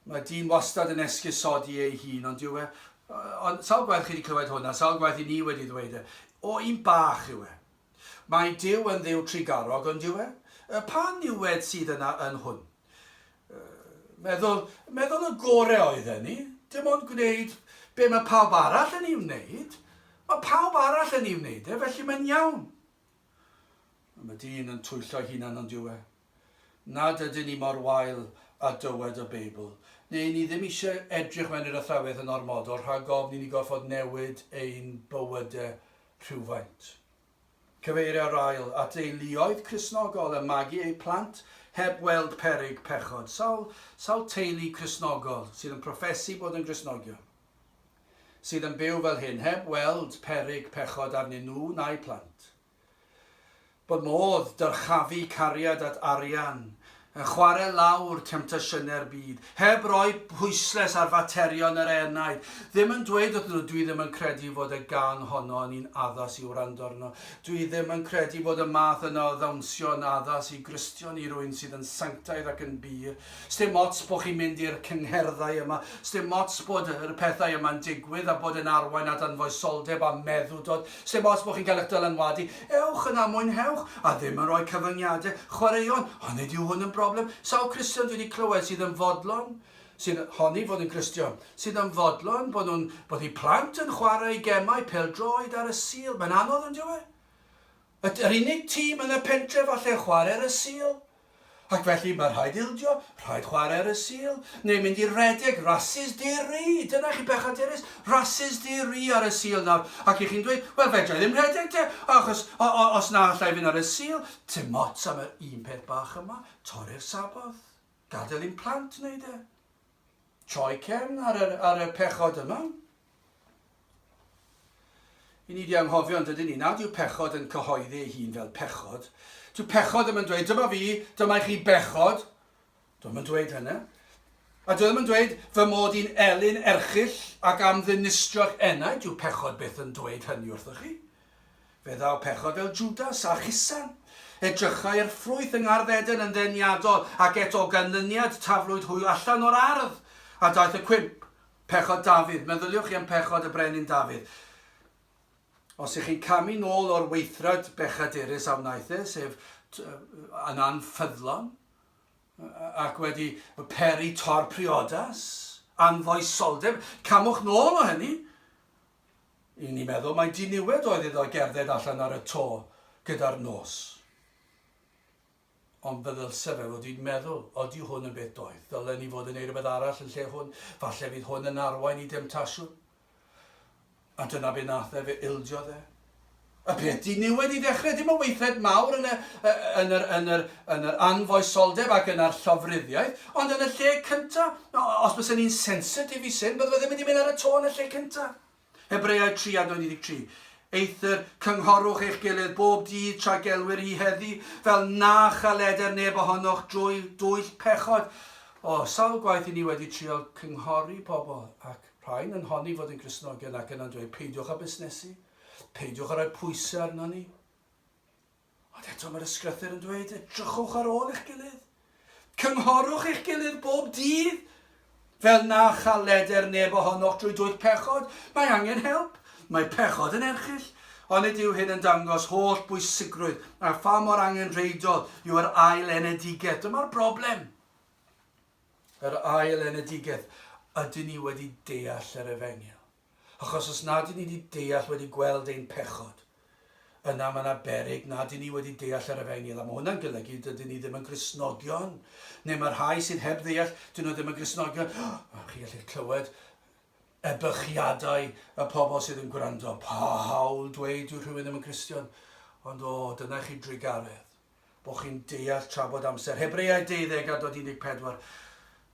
Mae dyn wastad yn esgusodi ei hun, ond yw e... Ond sawl gwaith chi wedi clywed hwnna, sawl gwaith i ni wedi ddweud e. O, un bach yw e. Mae Duw yn Dduw trugarog, yn dyw e? Pa niwed sydd yna yn hwn? Meddwl, meddwl y gore oedden ni, dim ond gwneud be mae pawb arall yn ei wneud. Mae pawb arall yn ei wneud e, felly mae'n iawn. Mae dyn yn twyllo'i hunan yn dyw e. Nad ydyn ni mor wael a dywed y Beibl, neu ni ddim eisiau edrych mewn i'r athrawes yn ormodol rhag ofn i ni gorfod newid ein bywydau rhywfaint. Cyfeirio rail at deuluoedd Cristnogol yn magu eu plant heb weld peryg pechod. Sawl, sawl teulu Cristnogol sydd yn proffesu bod yn Gristnogion sydd yn byw fel hyn heb weld peryg pechod arnyn nhw na'u plant? Bod modd dyrchafu cariad at arian, yn chware lawr temtasiynau'r byd, heb roi pwysles ar faterion yr enaid, ddim yn dweud wrthyn nhw, dwi ddim yn credu fod y gang honno yn un addas i wrando arno, dwi ddim yn credu bod y math yna o ddawnsio yn addas i Gristion, i rywun sydd yn sanctaidd ac yn bur. Sdim ots bod chi'n mynd i'r cyngherddau yma, sdim ots bod y pethau yma'n digwydd a bod e'n arwain at anfoesoldeb a meddwdod, Sim ots bod chi'n cael eich dylanwadu, ewch yna, mwynhewch, a ddim yn rhoi cyfyngiadau, chwaraeon, a nid yw hwn yn broblem, sawl Cristion dwi wedi clywed sydd yn fodlon, sydd, honni fod yn Gristion, sydd yn fodlon bod nhw'n, bod eu plant yn chwarae gemau pêl-droed ar y Sul, mae'n anodd yn dyw e? Yr unig tîm yn y pentre falle yn chwarae ar y Sul? Ac felly mae rhaid ildio, rhaid chwarae ar y Sul, neu mynd i redeg, rasys di-ri! Dyna chi bechod Erys, rasys di-ri ar y Sul nawr, ac i chi'n dweud, wel fedrai ddim rhedeg te, achos o, o, os na allai fynd ar y Sul, tim ots am yr un peth bach yma, torri'r Sabboth, gadael i'n plant wneud e. Troi cefn ar yr, ar y pechod yma. I ni di anghofio yn dydyn ni, nad yw pechod yn cyhoeddi ei hun fel pechod. Dyw pechod ddim yn dweud, dyma fi, dyma i chi bechod. Dwi'n yn dweud hynny. A dwi ddim yn dweud fy mod i'n elyn erchill ac am ddinistrio'ch enaid, dyw pechod byth yn dweud hynny wrthoch chi. Fe ddaw pechod fel Jwdas a Chusan. Edrychai'r ffrwyth yng ngardd Eden yn ddeniadol, ac eto o ganlyniad taflwyd hwy allan o'r ardd. A daeth y cwymp, pechod Dafydd. Meddyliwch chi am pechod y brenin Dafydd. Os ych chi'n camu nôl o'r weithred bechadurus a wnaeth e, sef yn anffyddlon, ac wedi peri tor priodas, anfoesoldeb, camwch nôl o hynny. Yn ei meddwl mai diniwed oedd iddo gerdded allan ar y to gyda'r nos. Ond fe ddylse fe fod i'n meddwl, odi hwn yn beth doeth? Ddylen ni fod yn ei rhywbeth arall yn lle hwn? Falle fydd hwn yn arwain i demtasiwn? A dyna be nath e, fe ildiodd e. Y peth diniwed i ddechrau, dim ond weithred mawr yn y, yn yr, yn yr, yn yr anfoesoldeb ac yna'r llofruddiaeth, ond yn y lle cynta, os bysen ni'n sensitif i sin, bydde fe ddim wedi mynd ar y to yn y lle cynta. Hebreaid 3 a 23. Eithr, cynghorwch eich gilydd bob dydd tra gelwir hi heddi, fel na chaleder neb ohonoch drwy dwyll pechod. O, sawl gwaith i ni wedi trial cynghori pobl, ac rhai'n yn honni fod yn Gristnogion ac yna'n dweud, peidiwch â busnesu. Peidiwch â rhoi pwysau arnon ni. Ond eto mae'r ysgrythur yn dweud, edrychwch ar ôl eich gilydd. Cynghorwch eich gilydd bob dydd. Fel na chael leder neb ohonoch drwy dwyll pechod, mae angen help. Mae pechod yn erchyll, ond nid yw hyn yn dangos holl bwysigrwydd a pha mor angenrheidiol yw yr ail enedigaeth. Dyma'r broblem. Yr ail enedigaeth, ydyn ni wedi deall yr efengyl? Achos os nad y'n ni wedi deall, wedi gweld ein pechod, yna mae yna beryg nad y'n ni wedi deall yr Efengyl, a mae hwnna'n golygu dydyn ni ddim yn Gristnogion, neu mae'r rhai sydd heb ddeall, dyn nhw ddim yn Gristnogion. Oh, chi gallu clywed ebychiadau y pobl sydd yn gwrando. Pa hawl dweud yw rhywun ddim yn Gristion? Ond o, dyna chi drugaredd. bo chi'n deall tra bod amser Hebreaid deuddeg a dod unig pedwar,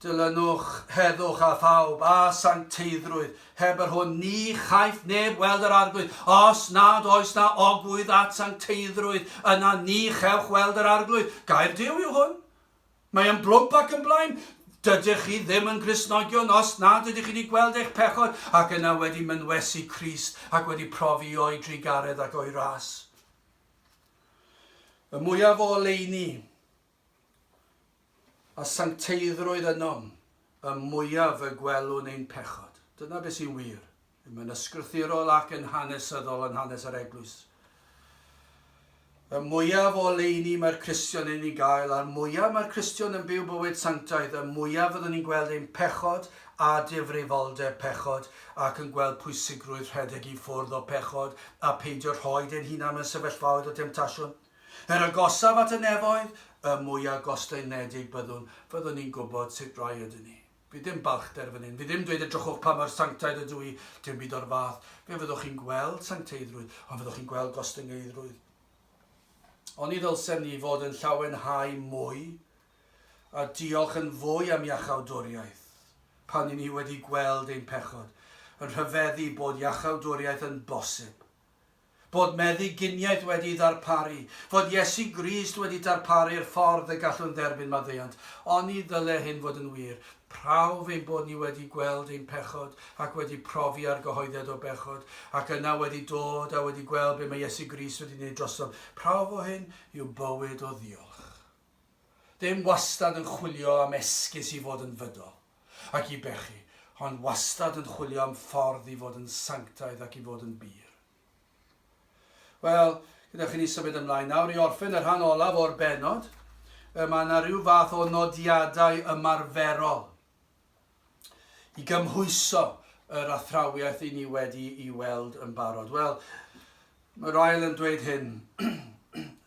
Dilynwch, heddwch a phawb, a sancteiddrwydd, heb yr hwn ni chaiff neb weld yr Arglwydd, os nad oes na ogwydd at sancteiddrwydd, yna ni chewch weld yr Arglwydd. Gair Duw yw hwn. Mae yn blwmp ac yn blaen. Dydych chi ddim yn Gristnogion os nad ydych chi wedi gweld eich pechod ac yna wedi mynwesu Crist ac wedi profi o'i drugaredd ac o'i ras. Y mwyaf o oleuni a sancteiddrwydd ynom, y mwyaf y gwelwn ein pechod. Dyna beth sy'n wir, yn yn ysgrythurol ac yn hanesyddol yn hanes yr Eglwys. Y mwyaf o oleuni mae'r Cristion yn ei gael, a'r mwyaf mae'r Cristion yn byw bywyd sanctaidd, y mwyaf fyddwn ni'n gweld ein pechod a difrifoldeb pechod, ac yn gweld pwysigrwydd rhedeg i ffwrdd o pechod a peidio rhoid ein hunain mewn sefyllfaoedd o demtasiwn. Yr agosaf at y nefoedd, y mwyaf gostaenedig byddwn, fyddwn ni'n gwybod sut rai ydyn ni. Fydd dim balchder fan hyn, fydd dim dweud edrychwch pa mor sanctaidd ydw i, dim byd o'r fath. Fe fyddwch chi'n gweld sancteiddrwydd, ond fyddwch chi'n gweld gostyngeidrwydd. Oni ddylsem ni fod yn llawenhau mwy a diolch yn fwy am iachawdwriaeth pan i ni wedi gweld ein pechod, yn rhyfeddu bod iachawdwriaeth yn bosib, bod meddyginiaeth wedi'i ddarparu, fod Iesu Grist wedi darparu'r ffordd y gallwn dderbyn maddeuant. Oni ddyle hyn fod yn wir? Prawf ein bod ni wedi gweld ein pechod ac wedi profi argyhoeddiad o bechod, ac yna wedi dod a wedi gweld be mae Iesu Grist wedi gwneud drosom. Prawf o hyn yw bywyd o ddiolch. Ddim wastad yn chwilio am esgus i fod yn fydol ac i bechu, ond wastad yn chwilio am ffordd i fod yn sanctaidd ac i fod yn bur. Wel, gyda chi ni symud ymlaen nawr i orffen y rhan olaf o'r benod. Mae yna rhyw fath o nodiadau ymarferol i gymhwyso yr athrawiaeth i ni wedi i weld yn barod. Wel, mae Ryle yn dweud hyn.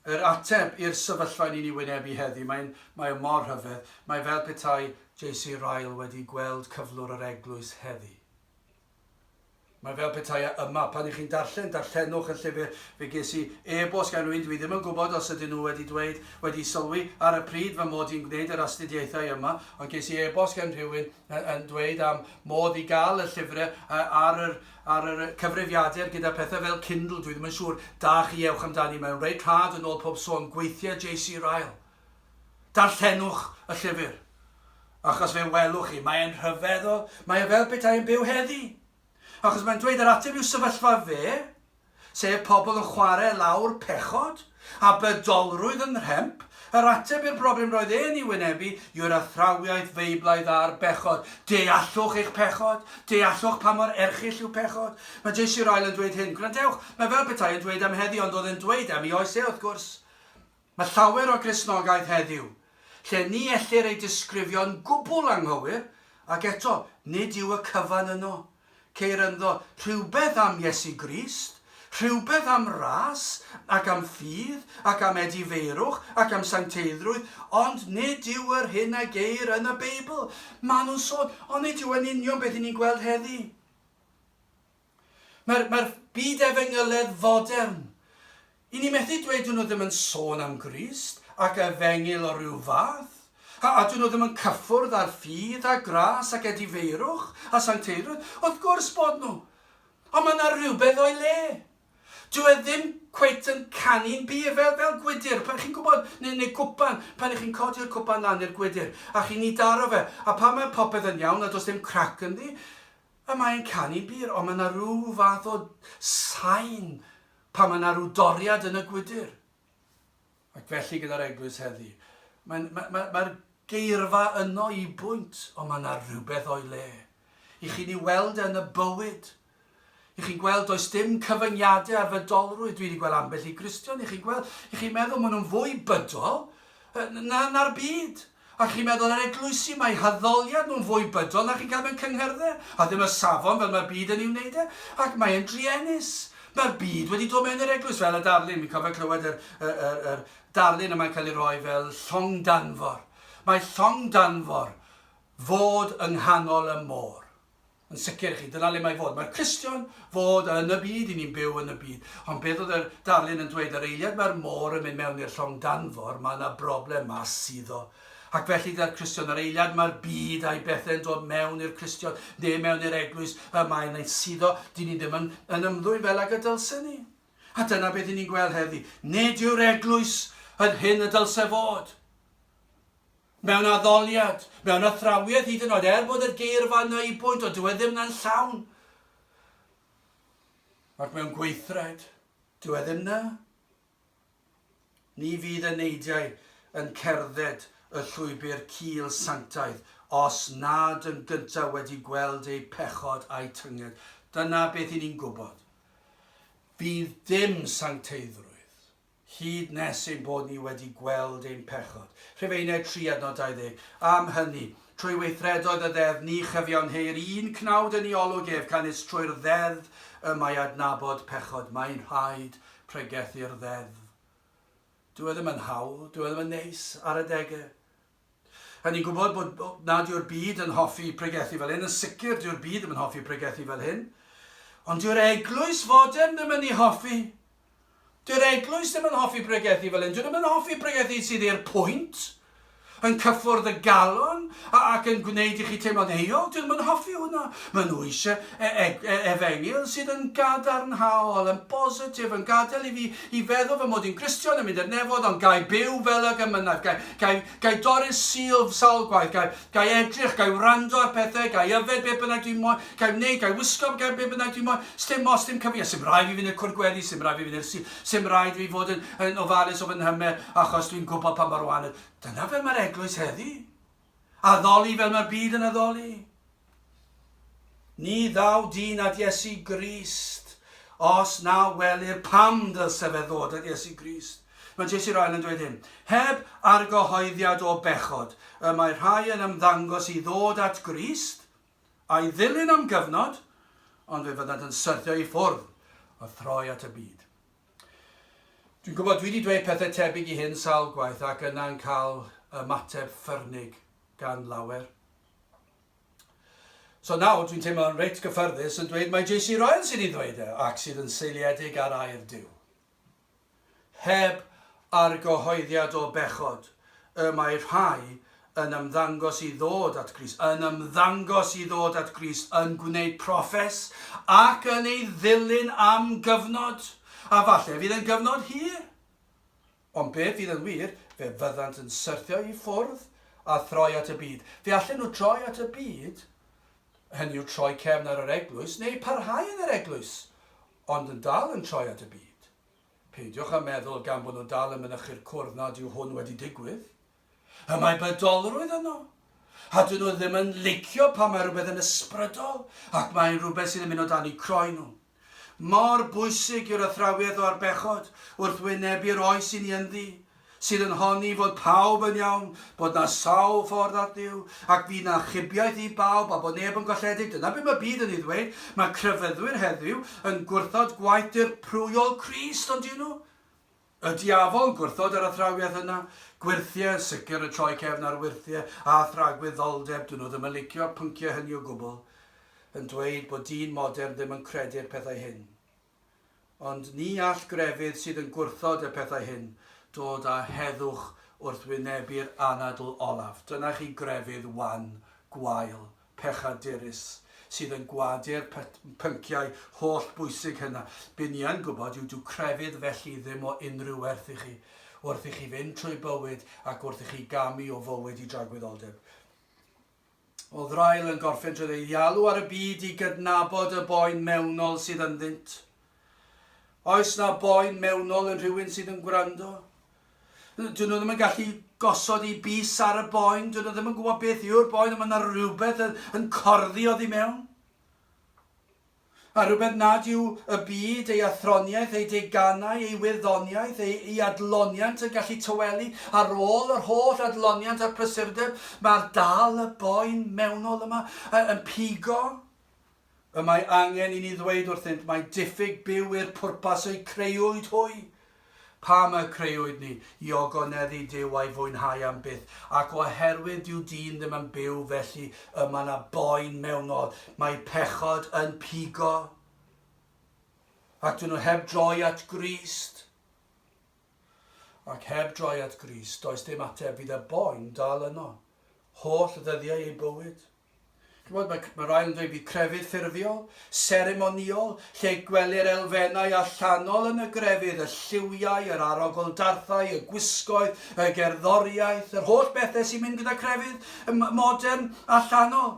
yr ateb i'r sefyllfa ni'n ei wynebu heddi, mae'n, mae mor rhyfedd, mae fel petai JC Ryle wedi gweld cyflwr yr eglwys heddi. Mae fel petai a yma. Pan i chi'n darllen, darllenwch y llyfr. Fe ges i e-bost gan rywun, dwi ddim yn gwybod os ydyn nhw wedi dweud, wedi sylwi ar y pryd fy mod i'n gwneud yr astudiaethau yma, ond ges i e-bost gan rhywun yn dweud am modd i gael y llyfrau ar yr, ar yr cyfrifiadur gyda pethau fel Kindle, dwi ddim yn siŵr, da chi, ewch amdani, mae'n reit rhad yn ôl pob sôn, gweithiau JC Ryle. Darllenwch y llyfr, achos fe welwch chi, mae e'n rhyfeddol, mae e fel petai e'n byw heddi! Achos mae'n dweud yr ateb i'w sefyllfa fe, sef pobl yn chwarae lawr pechod a bydolrwydd yn nhremp, yr ateb i'r broblem roedd e'n ei wynebu yw'r athrawiaeth Feiblaidd ar bechod, deallwch eich pechod, deallwch pa mor erchyll yw pechod. Mae Jesu yr Ail yn dweud hyn, gwrandewch, mae fel petai e'n dweud am heddi ond oedd e'n dweud am ei oes e, wrth gwrs. Mae llawer o Gristnogaeth heddiw, lle ni ellir ei disgrifio'n gwbl anghywir, ac eto, nid yw y cyfan yno. Ceir ynddo rhywbeth am Iesu Grist, rhywbeth am ras, ac am ffydd, ac am edifeirwch, ac am sancteiddrwydd, ond nid yw yr hyn a geir yn y Beibl. Maen nhw'n sôn, ond nid yw e'n union beth 'yn ni'n gweld heddi. Mae'r, mae'r byd efengyledd fodern. I ni methu dweud dyn nhw ddim yn sôn am Grist ac efengyl o ryw fath, a, a dyn nhw ddim yn cyffwrdd â'r ffydd a gras ac edifeirwch a sancteirwyd, wrth gwrs bod nhw. Ond mae yna rhywbeth o'i le. Dyw e ddim cweit yn canu'n bur fel, fel gwydr, pan chi'n gwybod, neu, neu gwpan, pan ych chi'n codi'r cwpan lan i'r gwydr, a chi'n ei daro fe, a pan mae popeth yn iawn a does dim crac ynddi, A mae e'n canu bur, ond mae 'na ryw fath o sain pan mae 'na ryw doriad yn y gwydr. Ac felly gyda'r eglwys heddi, mae'n ma' ma' ma'r geirfa yno i bwynt, ond mae 'na rywbeth o'i le. I chi'n ei weld e yn y bywyd. I chi'n gweld does dim cyfyngiadau ar fydolrwydd, dwi wedi gweld ambell i Gristion, i chi'n gweld, i chi'n meddwl maen nhw'n fwy bydol na na'r byd. A chi'n meddwl ar eglwysi, mae haddoliad nhw'n fwy bydol na chi'n cael mewn cyngherddau, a ddim y safon fel mae'r byd yn ei wneud e, ac mae e'n druenus. Mae'r byd wedi dod mewn i'r eglwys fel y darlun, fi'n cofio clywed yr, yr, yr, yr darlun yma'n cael ei roi fel llong danfor. Mae llong danfor fod yng nghanol y môr. Yn sicr i chi, dyna le mae fod. Mae'r Cristion fod yn y byd, i ni'n byw yn y byd. Ond beth oedd yr darlun yn dweud? Yr eiliad mae'r môr yn mynd mewn i'r llong danfor, mae yna broblem mas suddo. Ac felly dy'r Cristion, yr eiliad mae'r byd a'i bethe'n dod mewn i'r Cristion, neu mewn i'r eglwys, y mae yna'n suddo, dyn ni ddim yn, yn ymddwyn fel ag y dylse ni. A dyna beth i ni'n gweld heddi. Nid yw'r eglwys yn hyn y dylse fod. Mewn addoliad, mewn athrawiad hyd yn oed, er bod y geirfa yna i bwynt, ond dyw e ddim na'n llawn. Ac mewn gweithred, dyw e ddim na. Ni fydd y neidiau yn cerdded y llwybr cul sanctaidd os nad yn gyntaf wedi gweld eu pechod a'u tynged. Dyna beth 'yn ni'n gwybod. Fydd dim sancteiddrwydd. hyd nes ein bod ni wedi gweld ein pechod. Rhufeiniaid 3 adnod 20. Am hynny, trwy weithredoedd y Ddeddf ni chyfiawn heu'r un cnawd yn ei olwg ef, canys trwy'r Ddeddf y mae adnabod pechod. Mae'n rhaid pregethu'r Ddeddf. Dyw e ddim yn hawdd, dyw e ddim yn neis ar adegau. Rhaid ni gwybod bod nad yw'r byd yn hoffi pregethu fel hyn, yn sicr dyw'r byd ddim yn hoffi pregethu fel hyn, ond dyw'r eglwys fodern ddim yn ei hoffi. Dyw'r eglwys ddim yn hoffi pregethu fel hyn, dydyn nhw ddim yn hoffi pregethu sydd i'r pwynt, yn cyffwrdd y galon ac yn gwneud i chi teimlo'n euog, dydyn nhw ddim yn hoffi hwnna. Maen nhw eisiau e e e efengyl sydd yn gadarnhaol, yn bositif, yn gadael i fi I feddwl fy mod i'n Gristion yn mynd i'r nefod ond gai byw fel ag y mynnau, gai, gai, gai dorri'r sil sawl gwaith, gai, gai edrych, gai wrando ar pethau, gai yfed be bynnag dwi'n moyn, gai wneud, gai wisgo gai be bynnag dwi'n moyn, sdim os dim cyfyngiad, sdim rhaid fi fynd i'r cwr gweddi, sdim rhaid fi fynd i'r sil, sdim rhaid fi fod yn, yn ofalus o fy nhymer achos dwi'n gwybod pa mor wael, dyna fel mae'r eglwys heddi. Addoli fel mae'r byd yn addoli. Ni ddaw dyn at Iesu Grist, os na welir pam ddylse fe ddod at Iesu Grist. Mae J.C. Ryle yn dweud hyn, Heb argyhoeddiad o bechod, y mae rhai yn ymddangos i ddod at Grist, a'i ddilyn am gyfnod, ond fe fyddant yn syrthio i ffwrdd, a throi at y byd. Dwi'n gwybod, dwi wedi dweud pethau tebyg i hyn sawl gwaith ac yna'n cael ymateb ffyrnig gan lawer. So nawr dwi'n teimlo'n reit gyffyrddus yn dweud mae JC Ryan sydd wedi dweud e ac sydd yn seiliedig ar air Duw. Heb argyhoeddiad o bechod, y mae rhai yn ymddangos i ddod at Grist, yn ymddangos i ddod at Grist, yn gwneud proffes, ac yn ei ddilyn am gyfnod, a falle fydd yn gyfnod hir. Ond be fydd yn wir, fe fyddant yn syrthio i ffwrdd a throi at y byd. Fe allen nhw droi at y byd, hynny yw troi cefn ar yr eglwys, neu parhau yn yr eglwys, ond yn dal yn troi at y byd. Peidiwch â meddwl gan bod nhw dal yn mynychu'r cwrdd nad yw hwn wedi digwydd. Y mae bydolrwydd yno. A dyn nhw ddim yn licio pan mae rhywbeth yn ysbrydol ac mae'n rhywbeth sydd yn mynd o dan eu croen nhw. Mor bwysig yw'r athrawiaeth o'r bechod wrth wynebu'r oes i ni ynddi. sydd yn honni fod pawb yn iawn, bod 'na sawl ffordd at Dduw, ac bydd 'na achubiaeth i bawb a bod neb yn golledig, dyna be mae byd yn ei ddweud, mae crefyddwyr heddiw yn gwrthod gwaith dirprwyol Crist, on'd 'yn nhw? Y diafol yn gwrthod yr athrawiaeth yna. Gwyrthiau yn sicr yn troi cefn ar wyrthiau a thragwyddoldeb, 'dyn nhw ddim yn licio'r pynciau hynny o gwbl, yn dweud bod dyn modern ddim yn credu'r pethau hyn. Ond ni all grefydd sydd yn gwrthod y pethau hyn dod â heddwch wrth wynebu'r anadl olaf. Dyna chi grefydd wan, gwael, pechadurus, sydd yn gwadu'r pynciau holl bwysig hynna. Be ni yn gwybod yw dyw crefydd felly ddim o unrhyw werth i chi, wrth i chi fynd trwy bywyd ac wrth i chi gamu o fywyd i dragwyddoldeb. Oedd Ryle yn gorffen trwy ddeialu ar y byd i gydnabod y boen mewnol sydd ynddynt? Oes na boen mewnol yn rhywun sydd yn gwrando? Dyn nhw ddim yn gallu gosod i bus ar y boen, dyn nhw ddim yn gwybod beth yw'r boen, ond mae yna rhywbeth yn, yn corddi oddi mewn. a rhywbeth nad yw y byd, ei athroniaeth, ei deganau, ei wyddoniaeth, ei ei adloniant yn gallu tawelu, ar ôl yr holl adloniant a'r prysurdeb, mae'r dal y boen mewnol yma y- yn pigo. Y mae angen i ni ddweud wrthynt mai diffyg byw i'r pwrpas eu creuwyd hwy, Pam y crëwyd ni? I ogoneddu Duw a'i fwynhau am byth. Ac oherwydd dyw dyn ddim yn byw felly y mae yna boen mewnol. Mae pechod yn pigo. Ac dyn nhw heb droi at Grist. Ac heb droi at Grist, does dim ateb, fydd y boen dal yno. Holl ddyddiau eu bywyd. Chimod, mae, mae rai yn dweud bydd crefydd ffurfiol, seremonïol, lle gwelir elfennau allanol yn y grefydd, y lliwiau, yr arogldarthau, y gwisgoedd, y gerddoriaeth, yr holl bethau sy'n mynd gyda crefydd modern allanol.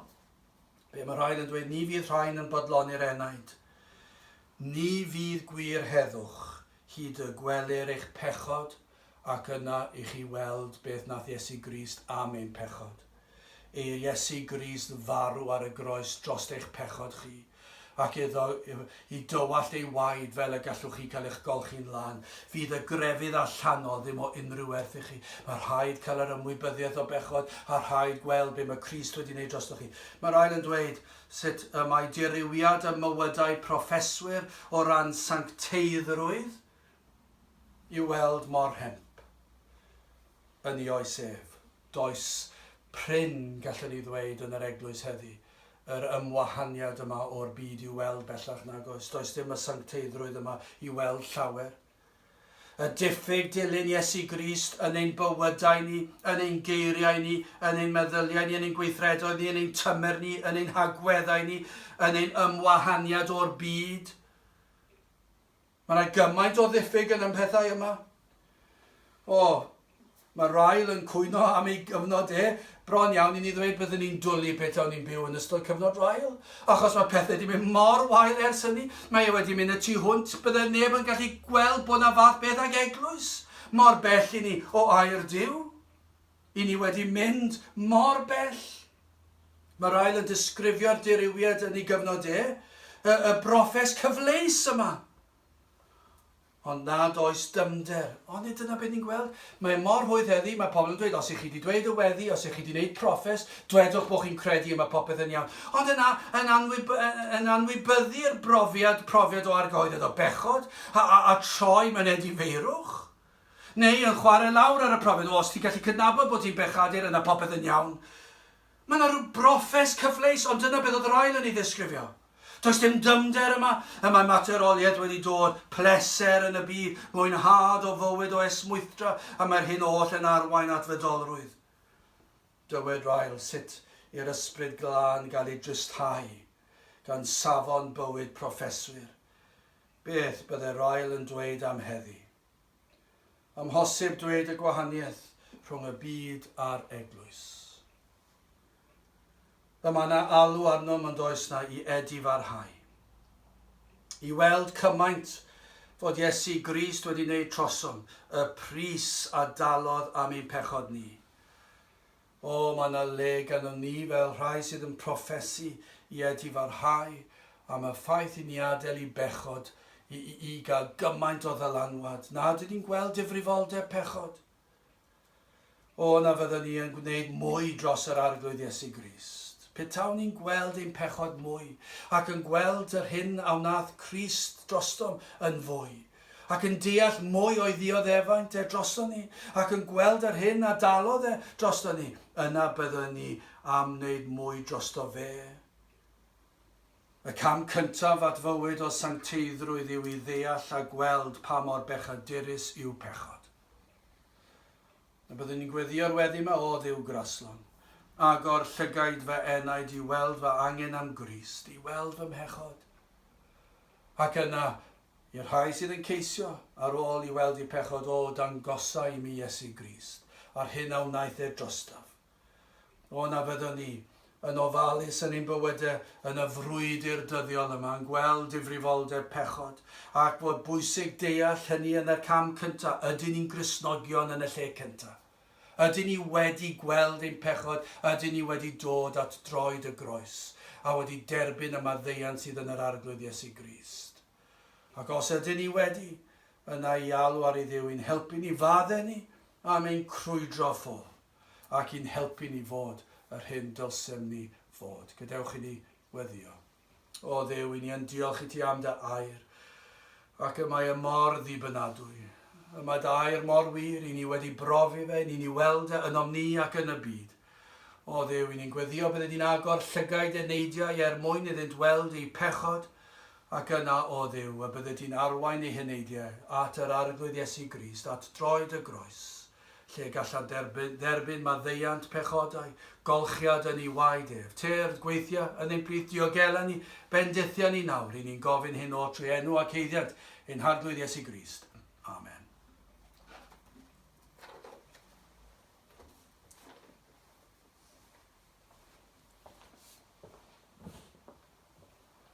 Be mae rai yn dweud, ni fydd rhain yn bodloni'r enaid. Ni fydd gwir heddwch, hyd y gwelir eich pechod, Ac yna i chi weld beth nath Iesu Grist am ein pechod. Eir Iesu Grist farw ar y groes drost eich pechod chi, ac iddo i dywallt ei waed fel y gallwch chi cael eich golchi'n lân. Fydd y grefydd allanol ddim o unrhyw werth i chi. Mae rhaid cael yr ymwybyddiaeth o bechod, a rhaid gweld be mae Crist wedi wneud drostoch chi. Mae'r ail yn dweud sut y mae dirywiad ym mywydau proffeswyr o ran sancteiddrwydd i'w weld mor hemp yn 'i oes ef. Does prin, gallwn i ddweud, yn yr Eglwys heddi, yr ymwahaniad yma o'r byd i'w weld, bellach nag oes. Does dim y sancteiddrwydd yma i'w weld llawer. Y diffyg dilyn Iesu Grist yn ein bywydau ni, yn ein geiriau ni, yn ein meddyliau ni, yn ein gweithredoedd ni, yn ein tymer ni, yn ein hagweddau ni, yn ein ymwahaniad o'r byd, Mae yna gymaint o ddiffyg yn y mhethau yma. O, mae Ryle yn cwyno am ei gyfnod e. Bron iawn i ni ddweud byddwn ni'n dwlu beth o'n ni'n byw yn ystod cyfnod Ryle, achos mae pethau wedi mynd mor wael ers hynny. Mae e wedi mynd y tu hwnt, byddai neb yn gallu gweld bod yna fath beth ag eglwys, mor bell i ni o air Duw. I ni wedi mynd mor bell. Mae Ryle yn disgrifio'r dirywiad yn ei gyfnod e, y, y brofes cyfleus yma. Ond nad oes dymder. Ond nid dyna beth ni'n gweld. Mae mor hwydd heddi, mae pobl yn dweud, os ych chi wedi dweud y weddi, os ych chi wedi gwneud profes, dwedwch bod chi'n credu y mae popeth yn iawn. Ond yna, yn, anwyb, yn anwybyddu'r brofiad, profiad o argoededd o bechod, a, a, a troi myned i feirwch. Neu yn chware lawr ar y profiad o os ti'n gallu cydnabod bod ti'n bechadur yna popeth yn iawn. Mae yna rhyw brofes cyfleus ond dyna beth oedd yr ail yn ei ddisgrifio. Does dim dyfnder yma, y mae materoliaeth wedi dod, pleser yn y byd, mwynhad o fywyd o esmwythdra y mae'r hyn oll yn arwain at fydolrwydd. Dywed Ryle sut i'r ysbryd glân gael ei drysthau gan safon bywyd proffeswyr. Beth byddai'r ail yn dweud am heddi? Amhosib dweud y gwahaniaeth rhwng y byd a'r eglwys. Y mae na alw arnom ond oes na i edifarhau. I weld cymaint fod Iesu Grist wedi wneud trosom, y pris a dalodd am ein pechod ni. O, mae yna le ganddo ni fel rhai sydd yn proffesu, i edifarhau am y ffaith i ni adael i bechod i, i, i gael gymaint o ddylanwad nad ydyn ni'n gweld difrifoldeb pechod. O, na fyddwn ni yn gwneud mwy dros yr Arglwydd Iesu Grist. Petawn ni'n gweld ein pechod mwy, ac yn gweld yr hyn a wnaeth Crist drostom yn fwy, ac yn deall mwy o'i ddioddefaint e drosto ni, ac yn gweld yr hyn a dalodd e drosto ni, yna byddwn ni am wneud mwy drosto fe. Y cam cyntaf at fywyd o sancteiddrwydd yw i ddeall a gweld pa mor bechadurus yw pechod. Na byddwn ni'n gweddïo'r weddi mae o ddiw graslon. Agor llygaid fy enaid i weld fy angen am Grist, i weld fy mhechod. Ac yna, i'r rhai sydd yn ceisio, ar ôl i weld eu pechod O dangosa i mi Iesu Grist, a'r hyn a wnaeth e drostaf. O na fyddwn ni, yn ofalus yn ein bywydau, yn y frwydr dyddiol yma, yn gweld difrifoldeb pechod, ac bod bwysig deall hynny yn y cam cyntaf, ydyn ni'n Gristnogion yn y lle cyntaf? Ydyn ni wedi gweld ein pechod, ydyn ni wedi dod at droed y groes, a wedi derbyn y maddeuant sydd yn yr Arglwydd Iesu Grist? Ac os ydyn ni wedi, yna i alw ar ei Dduw i'n helpu ni fadde ni am ein crwydro ffwrdd, ac i'n helpu ni fod yr hyn dylsem ni fod. Gadewch i ni weddio. O Dduw, i ni yn diolch i ti am dy air, ac y mae y mor ddibynadwy. Y mae dy air mor wir, i ni wedi brofi fe, i ni ni weld e ynom ni ac yn y byd. O Dduw, i ni'n gweddio bydde di'n agor llygaid e neidiau er mwyn iddynt weld eu pechod, ac yna, o Dduw, y bydde ti'n arwain ei heneidiau at yr Arglwydd Iesu Grist, at droed y groes. lle gallant dderbyn maddeuant pechodau, golchiad yn ei waed ef, tyrd, gweithiau, yn ein plith diogela ni, bendithia ni nawr, ry'n ni'n gofyn hyn o trwy enw ac eiddiant ein Harglwydd Iesu Grist. Amen.